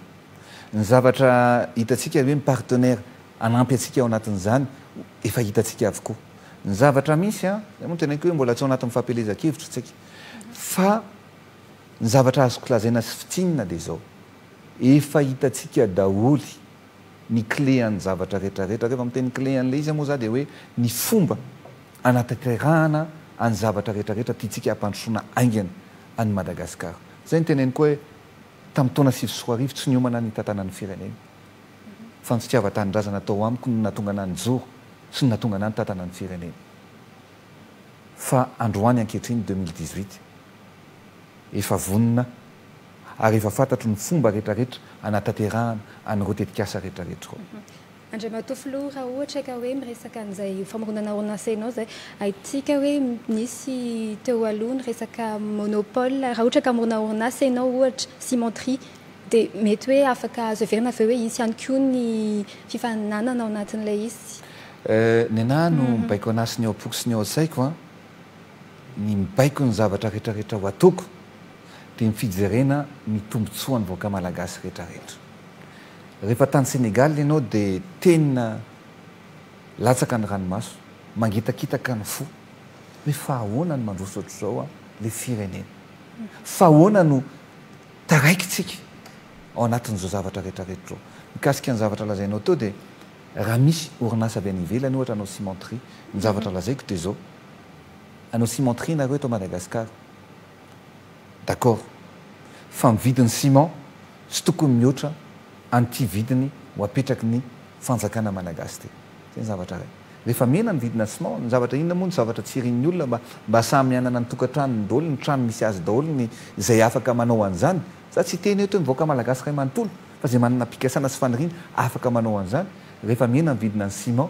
Ny zavatra hitantsika hoe ny partenaire hanampy antsika ao anatin'izany efa hitantsika avokoa. Ny zavatra misy, izay moa no teneniko hoe mbola tsy ao anatin'ny fampielezan-kevitra isika, fa ny zavatra azoko lazaina sy fintinina dia izao, efa hitantsika daholo ny clé an'ny zavatra rehetra rehetra, rehefa miteny clé an'ilay izy moa izaho dia hoe ny fomba hanatanterahana an'ny zavatra rehetra rehetra tiantsika hampandrosoana haingana an'i Madagasikara. Izay no teneniko hoe Tamin'ny taona sivy sy roa arivo, tsy niomana ny hitantanany ny fireneny. Fa ny fitiavan-tanindrazana tao amiko no nahatonga anà nijoro sy no nahatonga anà nitantana ny fireneny. Fa androany ankehitriny, deux mille dix-huit, efa vonona ary efa fantatro ny fomba rehetrarehetra hanatanterahana an'ireo tetikasa rehetrarehetra ireo. Andriamatoa Filoha, raha ohatra ka hoe miresaka an'izay famoronana orinasa ianao izay, haintsika hoe nisy teo aloha ny resaka monopole, raha ohatra ka hamorona orinasa ianao ohatra, cimenterie, dia mety hoe afaka azo heverina ve hoe hisy ihany koa ny fifaninanana ao anatin'ilay izy? Nenah no mibaiko anah sy ny ao am-poko sy ny ao an-tsaiko an, ny mibaiko ny zavatra retraretra ho ataoko dia ny fijerena ny tombotsoan'ny vahoaka malagasy retraretra. Rehefa tany Sénégal ianao dia tena latsaka ny ranomaso, mangitakitaka ny fo hoe fa ahoana no mandroso ohatr'izao an le firenena? Fa ahoana no taraikintsika ao anatin'izao zavatra retraretra izao? Mikasika ny zavatra lazainao teo dia raha misy orinasa avy any ivelany ohatra hanao cimenterie, ny zavatra lazaiko dia izao, hanao cimenterie nareo eto Madagascar, D'accord. Fa ny vidin'ny ciment tsy tokony mihoatra an'ity vidiny ho apetraky ny fanjakana Malagasy ity. Zay ny zavatra iray. Rehefa mihena ny vidina ciment, ny zavatra inona moa ny zavatra tsy irin'ny olona mba mba samy hanana ny tokantranony daholo, ny trano misy azy daholo ny izay afaka manao an'izany. Za tsy hiteny eto hoe ny vahoaka Malagasy iray manontolo fa izay manana pikasana sy faniriana afaka manao an'izany. Rehefa mihena ny vidina ny ciment.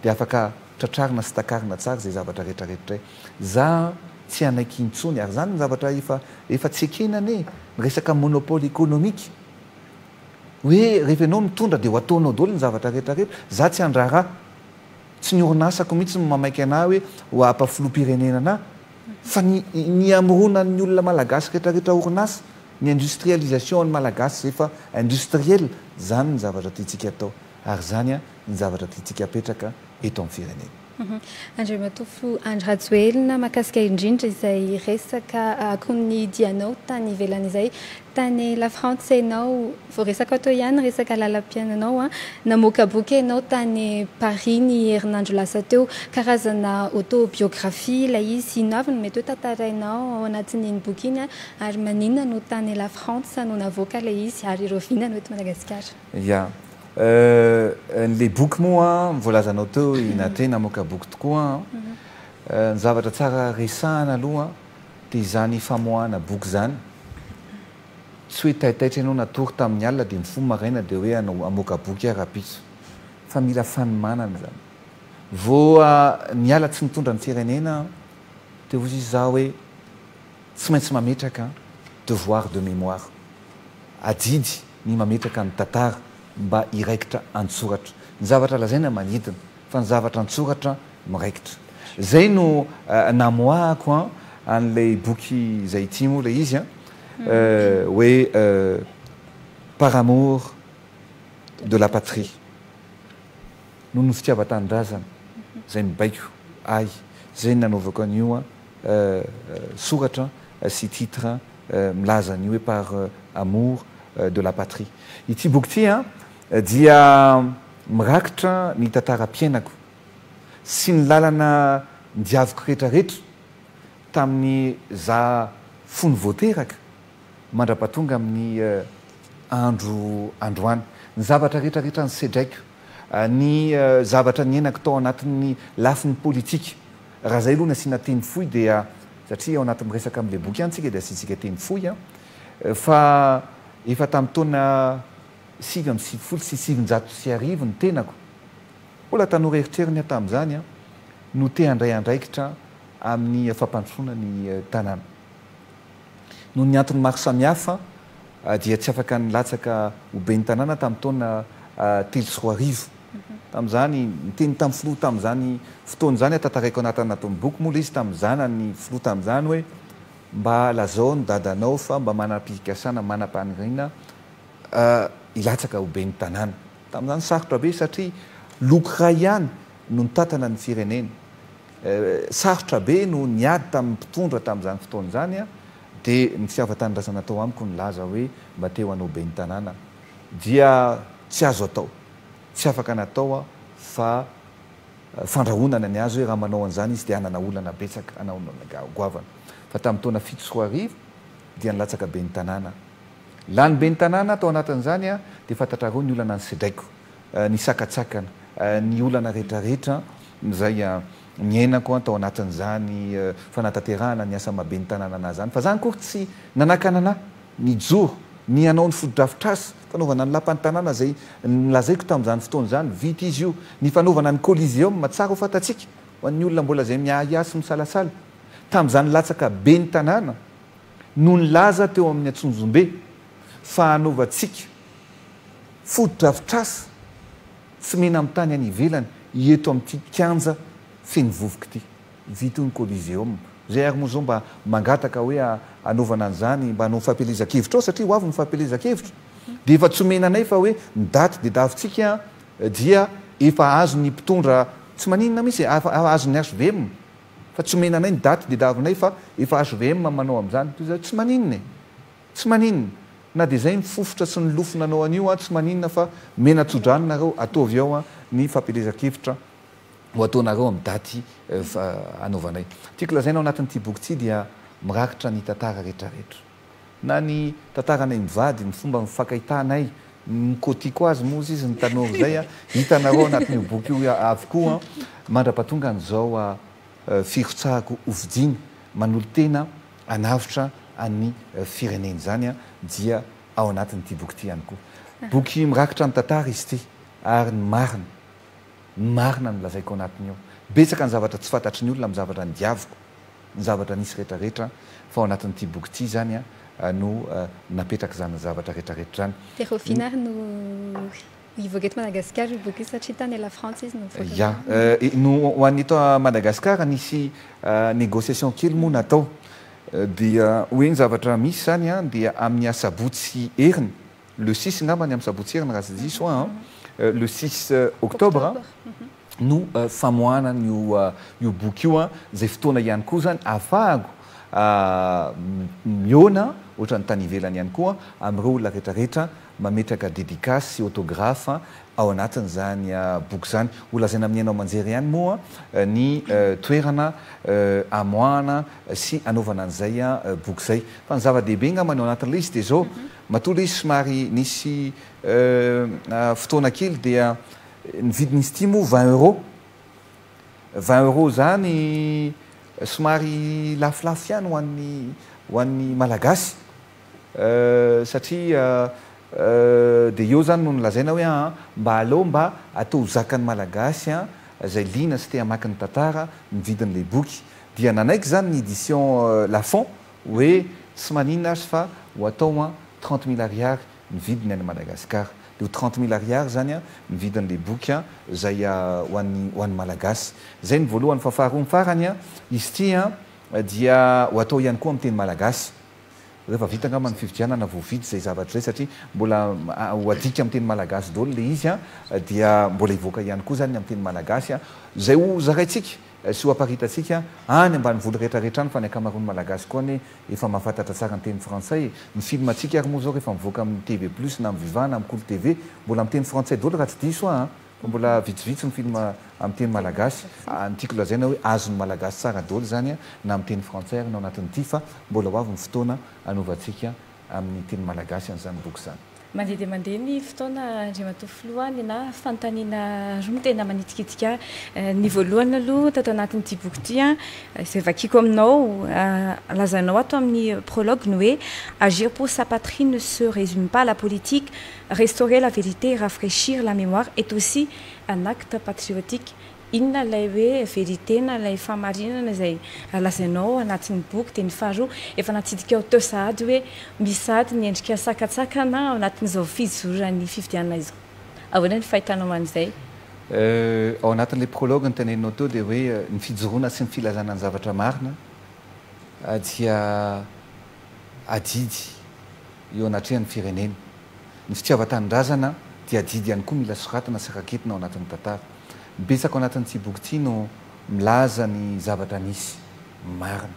Dia afaka tratrarina sy takarina tsara izay zavatra rehetra rehetra e! Za tsy hanaiky intsony ary zany ny zavatra efa efa tsy ekena anie ny resaka monopole economique hoe rehefa enao mitondra dia ho ataonao doly ny zavatra rehetra rehetra za tsy handrara tsy ny orinasako mitsy no mamaika anah hoe ho apa filohampirenena anah fa ny ny hamorona ny olona malagasy rehetra rehetra orinasa ny industrialisation an'ny malagasy izay efa industriel zany ny zavatra tiantsika atao ary zany an ny zavatra tiantsika hapetraka eto amin'ny firenena. Andriamatofo Andry Rajoelina, mahakasika indrindra izay resaka akon'ny dianao tany ivelany izay. Tany Lafrantsa ianao, voaresaka ato ihany ny resaka lalam-piainanao. Namoaka boky ianao tany Paris ny herinandro lasa teo. Karazana autobiographie ilay izy. Inona avy no mety hoe tantarainao ao anatin'iny boky iny ary maninona no tany Lafrantsa no navoaka ilay izy ary ireo vina no eto Madagasikara? Ya. Euh le boky moa an, voalazanao teo i Nathe namoaka boky tokoa an. Ny zavatra tsara resahana aloha dia izany famoahana boky izany. Tsy hoe taitaitra ianao natory tamin'ny alina dia mifoha maraina dia hoe hanao hamoaka boky aho rahampitso. Fa mila fanomanana izany. Vao niala tsy nitondra ny firenena dia hoy izaho hoe. Tsy maintsy mametraka devoir de mémoire, adidy ny mametraka ny tantara mba hiraikitra an-tsoratra. Ny zavatra lazaina manidina fa ny zavatra an-tsoratra miraikitra. Izay no namoahako an an'ilay boky izay ity moa ilay izy an, hoe Par amour de la patrie, noho ny fitiavan-tanindrazana izay mibaiko ahy, izay no nanaovako an'io an. soratra sy titre milaza ny hoe par amour de la patrie. Ity boky ity dia mirakitra ny tantaram-piainako sy ny lalana nidiaviko rehetrarehetra tamin'ny za fony vao teraka mandrapatonga amin'ny andro androany. Ny zavatra rehetrarehetra nisedraiko, ny zavatra niainako tao anatin'ny lafiny politika Raha izay aloha ny asiana teny fohy dia satria ao anaty miresaka amin'ilay boky ihany isika dia asiantsika teny fohy an! fa efa tamin'ny taona sivy amby sivifolo sy sivinjato sy arivo ny tenako, mbola tanora eritreriny aho tamin'izany an! no te handray andraikitra amin'ny fampandrosoana ny tanàna. Noho ny antony maro samihafa dia tsy afaka nilatsaka ho ben'ny tanàna tamin'ny taona telo sy roa arivo tamin'izany. Niteny tamin'ny filoha tamin'izany fotoana izany, tantaraiko anatin'ny boky moa ilay izy, tamin'ny zanany filoha tamin'izany hoe mba lazao ny dadanao fa mba manam-pikasana, manam-paniriana hilatsaka ho ben'ny tanàna. Tamin'izany sarotra be satria loko iray ihany no nitantana ny firenena. Sarotra be no niady tamin'ny mpitondra tamin'izany fotoana izany dia ny fihavatanindrazana tao amiko nilaza hoe mba te ho anao ben'ny tanàna dia tsy azo atao, tsy afaka natao aho fa fandrahonana ny azy hoe raha manao an'izany izy dia hanana olana betsaka hanao ny goavana fa tamin'ny taona fito sy roa arivo dia nilatsaka ben'ny tanàna aho. Lany ben'ny tanàna aho tao anatin'izany dia fantatrareo ny olana nisedraiko ny sakantsakana, ny olana rehetrarehetra izay niainako tao anatin'izany fanatanterahana ny asa maha-ben'ny tanàna an'ahy izany. Fa za akory tsy nanakana an'ahy nijoro, ny hanao ny fotodrafitrasa fanaovana ny lapan'ny tanàna izay nolazaiko tamin'izany fotoana izany. Vita izy io. Ny fanaovana ny Coliseum, tsara ho fantatsika, ho an'ny olona mbola izay miahiahy sy misalasala, tamin'izany latsaka ben'ny tanàna no nilaza teo amin'ny Antsonjombe fa hanaovantsika fotodrafitrasa tsy mena-mitany any ivelany eto amin'ity kianja feno vovoka ity. Vita io ny Coliseum. Izay ary moa izao mba mangataka hoe hanaovana an'izany mba hanao fampielezan-kevitra ao satria ho avy ny fampielezan-kevitra dia efa tsy omena anay fa hoe ny daty dedavintsika dia efa azon'ny mpitondra tsy maninona mihitsy e, efa azon'ny HVM fa tsy omena anay ny daty dedavinay fa efa HVM manao an'izany. Toy izany hoe tsy maninona e. Tsy maninona, na dia izay mifofotra sy nilofo nanao an'io aho, tsy maninona fa mena tso-drano nareo, ataovy ao ny fampielezan-kevitra ho ataonareo amin'ny daty anaovanay. Tiako lazaina ao anatin'ity boky ity dia mirakitra ny tantara retraretra. Na ny tantaranay mivady, ny fomba nifankahitanay, ny kotiko azy moa ozy izy, ny tanora izay, hitanareo ao anatin'io boky io avokoa mandra-pahatongan'izao firotsahako hofidiana, manolo-tena. hanavotra an'ny fireneny izany dia ao anatin'ity boky ity ihany koa. Boky mirakitra ny tantara izy ity ary ny marina, ny marina no lazaiko ao anatiny ao. Betsaka ny zavatra tsy fantatry ny olona, ny zavatra nodiaviko, ny zavatra nisy rehetrarehetra fa ao anatin'ity boky ity izany no napetraka izany zavatra rehetrarehetra izany. Dia Raovina ary no. Hivoaka eto Madagasikara io boky io satria tany La Frantsa izy no nivoaka. Ya. No ho any eto Madagasikara nisy négociation kely moa natao. Dia hoe ny zavatra misy izany an, dia amin'ny asabotsy heriny, le six angamba ny amin'ny sabotsy heriny raha tsy diso aho an, le six octobre, no famoahana an'io io boky io an, izay fotoana ihany koa izany ahafahako mihaona ohatran'ny tany ivelany ihany koa amin'ireo olona rehetra rehetra mametraka dedicace sy autographe ao anatin'izany boky izany. Ho lazaina amin'ny haino aman-jery ihany moa ny toerana amoahana sy anaovana an'izay boky izay. Fa ny zava-dehibe angamba ny ao anatin'ilay izy dia izao, matoa ilay izy somary nisy fotoana kely dia ny vidin'izy ity moa vingt euros. Vingt euros izany somary lafolafo ihany ho an'ny ho an'ny Malagasy. Euh satria euh de eo zany no nolazaina hoe aa mba aleo mba atao ho zakan'ny malagasy an zay liana sy te hamaky ny tantara ny vidin'ilay boky. Dia nanaiky zany ny edition Lafon hoe tsy maninona azy fa ho atao an trente mille ariary ny vidiny any Madagascar. Dia ho trente mille ariary zany an ny vidin'ilay boky an zay ho an'ny ho an'ny malagasy. Zay ny voalohany fa faharoa ny farany an izy ity an dia ho atao ihany koa amin'ny teny malagasy. Rehefa vita angamba ny fifidianana vao vita izay zavatra izay satria mbola ho adika amin'ny teny malagasy daholo ilay izy dia mbola hivoaka ihany koa izany ny amin'ny teny malagasy izay ho zaraintsika sy ho aparitantsika any ambanivolo rehetra rehetra any fa ny ankamaroan'ny malagasy koa anie efa mahafantatra tsara ny teny frantsay ny filmantsika ary moa izao rehefa mivoaka amin'ny TV plus na amin'ny viva na amin'ny kolo TV mbola amin'ny teny frantsay daholo raha tsy diso aho an! Mbola vitsivitsy ny film amin'ny teny malagasy. Ny tiako lazaina hoe azon'ny malagasy tsara daholo izany na amin'ny teny frantsay ary ny ao anatin'ity fa mbola ho avy ny fotoana hanovantsika amin'ny teny malagasy an'izany boky izany. Mandeha dia mandeha ny fotoana Andriamatoa Filoha, ninahy fanontaniana roa no tena manitikitika ahy. Ny voalohany aloha tato anatin'ity boky ity izay vakiako aminao, lazainao ato amin'ny prologue ny hoe agir pour sa patrie ne se résume pas à la politique, Restaurer la vérité, rafraîchir la mémoire est aussi un acte patriotique, inona ilay hoe vérité na ilay fahamarinana izay lazainao anatin'ny boky dia ny faharoa efa natsidikao teo sahady hoe misy sahady ny endrika sakantsakana ao anatin'izao fizoran'ny fifidianana izao. Ahoana ny fahitanao an'izay? Euh, ao anatin'ilay prologue noteneninao teo dia hoe ny fijoroana sy ny filazana ny zavatra marina dia adidy eo anatrehan'ny firenena. Ny fitiavan-tanindrazana dia adidy ihany koa mila soratana sy raketina ao anatin'ny tantara. Betsaka ao anatin'ity boky ity no milaza ny zavatra nisy marina.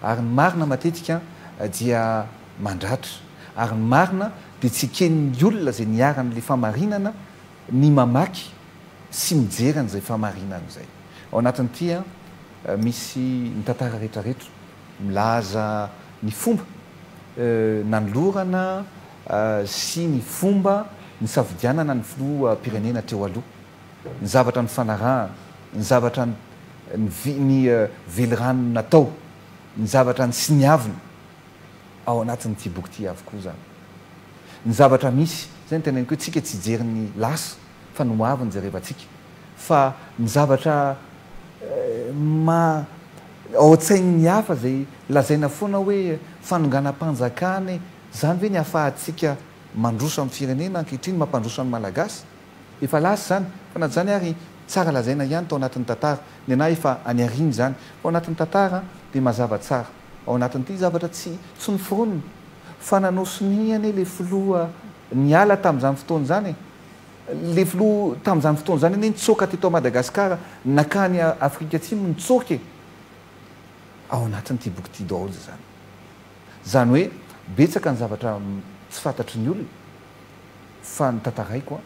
Ary ny marina matetika dia mandratra. Ary ny marina dia tsy eken'ny olona izay niharan'ilay fahamarinana ny mamaky sy mijery an'izay fahamarinana izay. Ao anatin'ity misy ny tantara rehetrarehetra. Milaza ny fomba nanolorana sy ny fomba nisafidianana ny filoham-pirenena teo aloha, ny zavatra nifanarahana, ny zavatra ny velirano natao, ny zavatra nisiniavina, ao anatin'ity boky ity avokoa izany. Ny zavatra misy, izay no teneniko hoe tsika tsy hijery ny lasa. fa ny hoavy no jerevantsika fa ny zavatra maha ao an-tsain'ny hafa izay lazaina foana hoe fanonganam-panjakana e, izany ve ny ahafahantsika mandroso amin'ny firenena ankehitriny, mampandroso an'ny Malagasy? Efa lasa izany fa na dia izany ary tsara lazaina ihany tao anatin'ny tantara, ny anah efa any aoriana izany fa ao anatin'ny tantara dia mazava tsara ao anatin'ity zavatra tsy tsy noforonina fa nanao sonia anie ilay filoha niala tamin'izany fotoana izany e! Le filoha tamin'izany fotoana izany anie nitsoaka teto à Madagascar nakany Afrika atsimo nitsoaka e! Ao anatin'ity boky ity daholo izany. Izany hoe betsaka ny zavatra tsy fantatry ny olona fa notantaraiko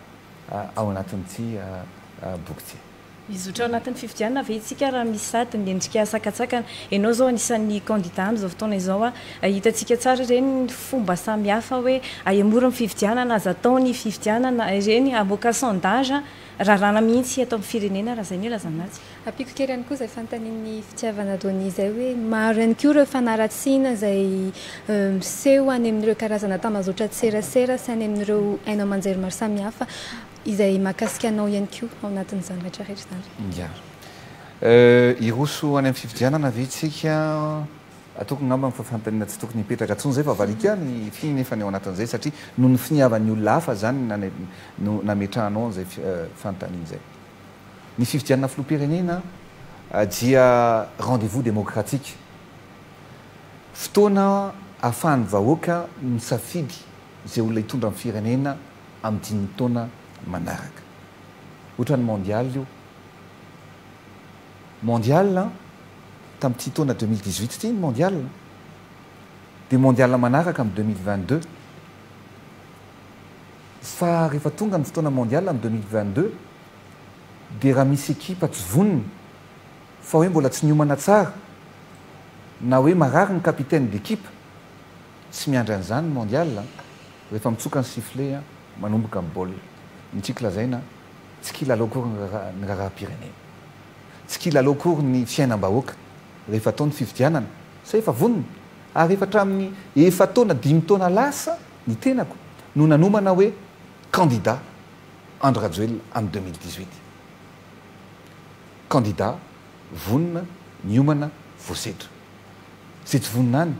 ao anatin'ity boky ity. Hizotra ao anatin'ny fifidianana ve isika raha misy sady ny endrika sakantsakana? Ianao izao anisan'ny kandida amin'izao fotoana izao. Hitantsika tsara ireny ny fomba samihafa hoe aia mora ny fifidianana, aza atao ny fifidianana, ireny hamoaka sondage raràna mihitsy eto amin'ny firenena raha izay no ilazana azy. Ampiako kely ihany koa izay fanontanian'i Fitiavana Donny izay hoe maro ihany koa ireo fanaratsiana izay miseho any amin'ireo karazana tambazotra an-tserasera sy any amin'ireo haino aman-jery maro samihafa. izay mahakasika anao ihany koa ao anatin'izany rehetra rehetra izany. Ya. Hiroso any amin'ny fifidianana ve isika? Ataoko angamba fa fanontaniana tsy tokony hipetraka intsony izay fa valika ny fy nefa ny ao anatin'izay satria noho ny finiavan'ny olona hafa izany no nametrahanao an'izay fanontaniana izay. Ny fifidianana filoham-pirenena dia rendez-vous démocratique, fotoana ahafahan'ny vahoaka misafidy izay olona hitondra ny firenena amin'ny dimy taona manaraka. Ohatran'ny mondial io. Mondial an! Tamin'ity taona deux mille dix-huit ity ny mondial. Dia mondial manaraka amin'ny deux mille vingt-deux. Fa rehefa tonga ny fotoana mondial amin'ny deux mille vingt-deux dia raha misy ekipa tsy vonona fa hoe mbola tsy niomana tsara na hoe marary ny capitaine d'equipe, Tsy miandry an'izany ny Mondial a! Rehefa mitsoka ny sifflet a, manomboka ny baolina. Ny tiako lazaina, tsy kilalao akory ny raharaha ny raharaham-pirenena. Tsy kilalao akory ny fiainam-bahoaka rehefa atao ny fifidianana sa efa vonona? Ary efa hatramin'ny efa-taona, dimy taona lasa ny tenako no nanomana hoe candidat Andry Rajoelina amin'ny deux mille dix-huit. Candidat vonona, miomana, voasedra. Izay tsy vonona any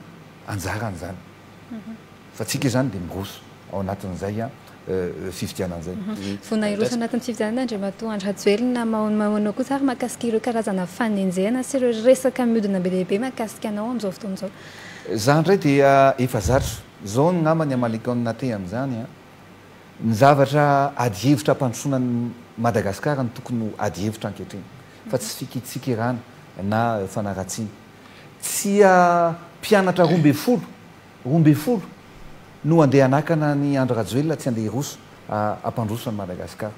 anjarany izany. Fa tsika izany dia miroso ao anatin'izay fifidianana izay. Vonona hiroso anatin'ny fifidianana Andriamatoa Andry Rajoelina. Mahomahoanao kosa ary mahakasika ireo karazana fanenjehana sy ireo resaka mihodina be dia be mahakasika anao amin'izao fotoana izao? Izaho indray dia efa zatra. Izao angamba ny hamaliako ny nateha amin'izany. Ny zavatra ady hevitra hampandrosoana an'i Madagasikara no tokony ho ady hevitra ankehitriny. fa tsy fikitsikirana na fanaratsiana. Tsia mpianatra roa ambin'ny folo, roa ambin'ny folo, no handeha hanakana an'i Andry Rajoelina tsy handeha hiroso hampandroso an'i Madagasikara.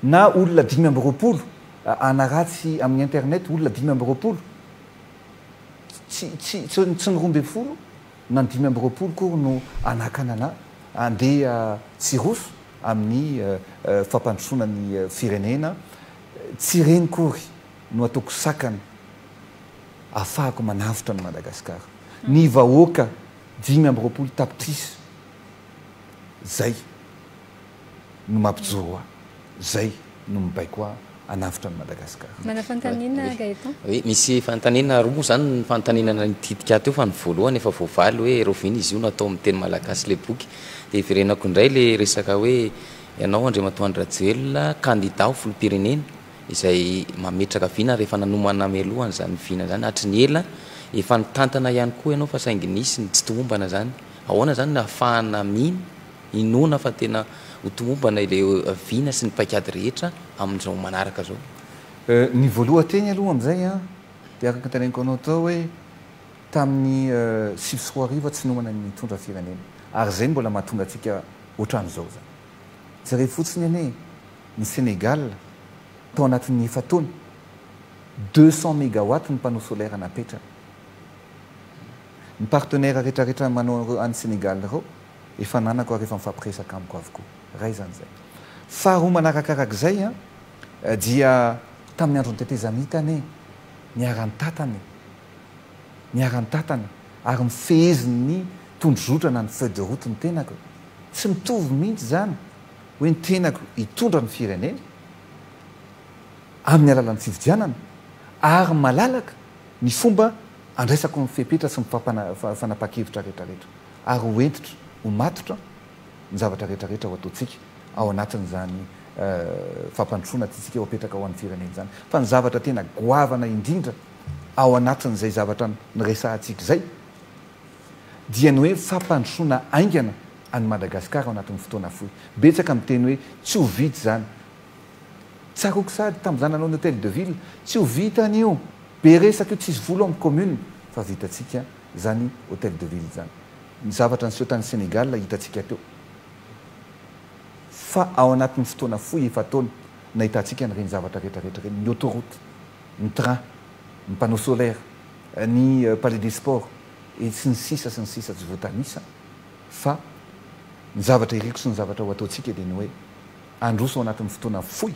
Na olona dimy amby roapolo hanaratsy amin'ny internet, olona dimy amby roapolo. Tsy, tsy, tsy ny roa ambin'ny folo na ny dimy amby roapolo akory no hanakana anà handeha tsy hiroso amin'ny fampandrosoana ny firenena Tsy ireny kory no ataoko sakana afahako manavotra an'i Madagascar. Ny vahoaka dimy amby roapolo tapitrisa zay no mampijoro ahy, zay no mibaiko ahy hanavotra an'i Madagascar. Manana fanontaniana Gaëtan? Oui, misy fanontaniana roa zany ny fanontaniana nitidika ahy teo fa ny voalohany efa voavaly hoe Rahoviana izy io no atao amin'ny teny malagasy ilay boky? Dia hiverenako indray ilay resaka hoe Ianao Andriamatoa Andry Rajoelina, kandida ho filoham-pirenena, izay mametraka vina rehefa nanomana mialoha an'izany vina izany hatry ny ela. Efa nitantana ihany koa ianao fa saingy nisy ny tsy tomombana izany. Ahoana izany no ahafahana mino, inoana fa tena ho tomombana ilay vina sy ny paikady rehetra amin'izao manaraka izao? Ny voalohan-teny aloha amin'izay dia araka ny teneniko anao tao hoe tamin'ny sivy sy roa arivo tsy nomana ny nitondra firenena ary izay no mbola mahatonga antsika ohatran'izao izany. Jereo fotsiny anie ny Sénégal tao anatin'ny efa-taona, deux cents mégawatts ny panneau solaire napetrany. Ny partenaires retraretra manao any Sénégal ireo efa ananako ary efa mifampiresaka amiko avokoa. Iray izany izay. Faharoa manarakarak'izay dia tamin'ny andron'ny tetezamita anie niara-nitatana e! Niara-nitantana ary nifehezin' ny tondrozotra na ny feuille de route ny tenako. Tsy mitovy mihitsy izany hoe ny tenako hitondra ny firenena amin' ny alalan' ny fifidianana ary malalaka ny fomba andraisako ny fepetra sy ny fanapahan-kevitra rehetrarehetra ary ho hentitra ho matotra ny zavatra rehetrarehetra ho ataontsika ao anatin' izany fampandrosoana tiantsika ho apetraka ho an' ny firenena izany fa ny zavatra tena goavana indrindra ao anatin'izay zavatra niresahantsika izay dia ny hoe fampandrosoana haingana an'i Madagasikara ao anatin'ny fotoana fohy. Betsaka miteny hoe tsy ho vita izany. Tsaroako sahady tamin'izaho nanao ny Hôtel de Ville, tsy ho vita an'io, be resaka io, tsisy vola ao amin'ny commune fa vitantsika izany Hôtel de Ville izany. Ny zavatra niseho tany Sénégal hitantsika teo fa ao anatin'ny fotoana fohy, efa-taona, nahitantsika an'ireny zavatra rehetra rehetra ireny, ny autoroute. ny train, ny panneau solaire, ny palais des sports, et sy ny sisa sy ny sisa tsy voatanisa, fa ny zavatra iriko sy ny zavatra ho ataontsika dia ny hoe handroso ao anatin'ny fotoana fohy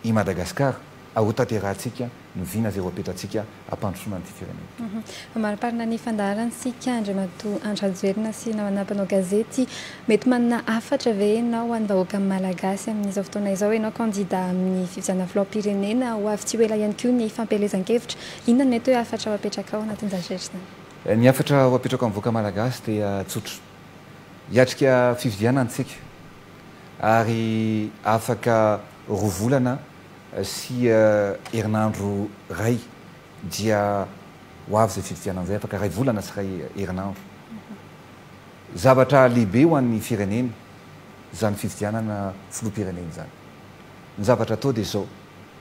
i Madagascar ary ho tanterahantsika ny vina izay ho apetrantsika hampandrosoana an'ity firenena ity. Amariparina ny fandaharantsika Andriamatoa Andry Rajoelina sy namana mpanao gazety Mety manana hafatra ve ianao ho an'ny vahoaka malagasy amin'izao fotoana izao? Ianao kandida amin'ny fifidianana filoham-pirenena ho avy tsy ho ela ihany koa ny fampielezan-kevitra. Inona no mety hoe hafatra ho apetrakao anatin'izany rehetra izany? Ny hafatra ho apetrako amin'ny vahoaka malagasy dia tsotra. Hiatrika fifidianana isika ary afaka roa volana sy herinandro iray dia ho avy izay fifidianana izay, afaka iray volana sy iray herinandro. Zavatra lehibe ho an'ny firenena izany fifidianana filoham-pirenena izany. Ny zavatra atao dia izao,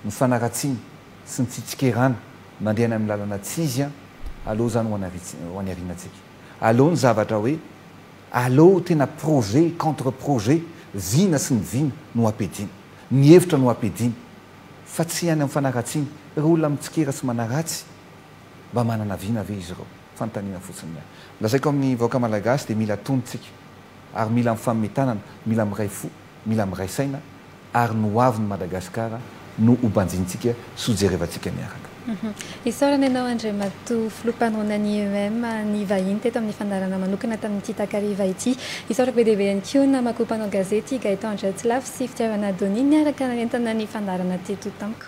ny fanaratsiana sy ny fitsikerana mandeha any amin'ny lalana tsy izy aleo izany ho any aorianantsika. Aleo ny zavatra hoe, aleo tena projet contre projet, vina sy ny vina no ampiadiana, ny hevitra no ampiadiana fa tsy any amin'ny fanaratsiana. Ireo olona mitsikera sy manaratsy mba manana vina ve izy ireo? Fanontaniana fotsiny ny ahy. Lazaiko amin'ny vahoaka Malagasy dia mila tony tsika ary mila mifanome tanana, mila miray fo, mila miray saina ary ny hoavin'i Madagasikara no ho banjintsika sy ho jerevantsika miaraka. Isaorana ianao Andriamatoa Filoha Mpanolonan'ny IEM nivahiny teto amin'ny fandaharana manokana tamin'ity takariva ity. Isaorako be dia be ihany koa namako mpanao gazety Gaëtan Andriatsilafy sy Fitiavana Donia niaraka nanentana ny fandaharana teto tamiko.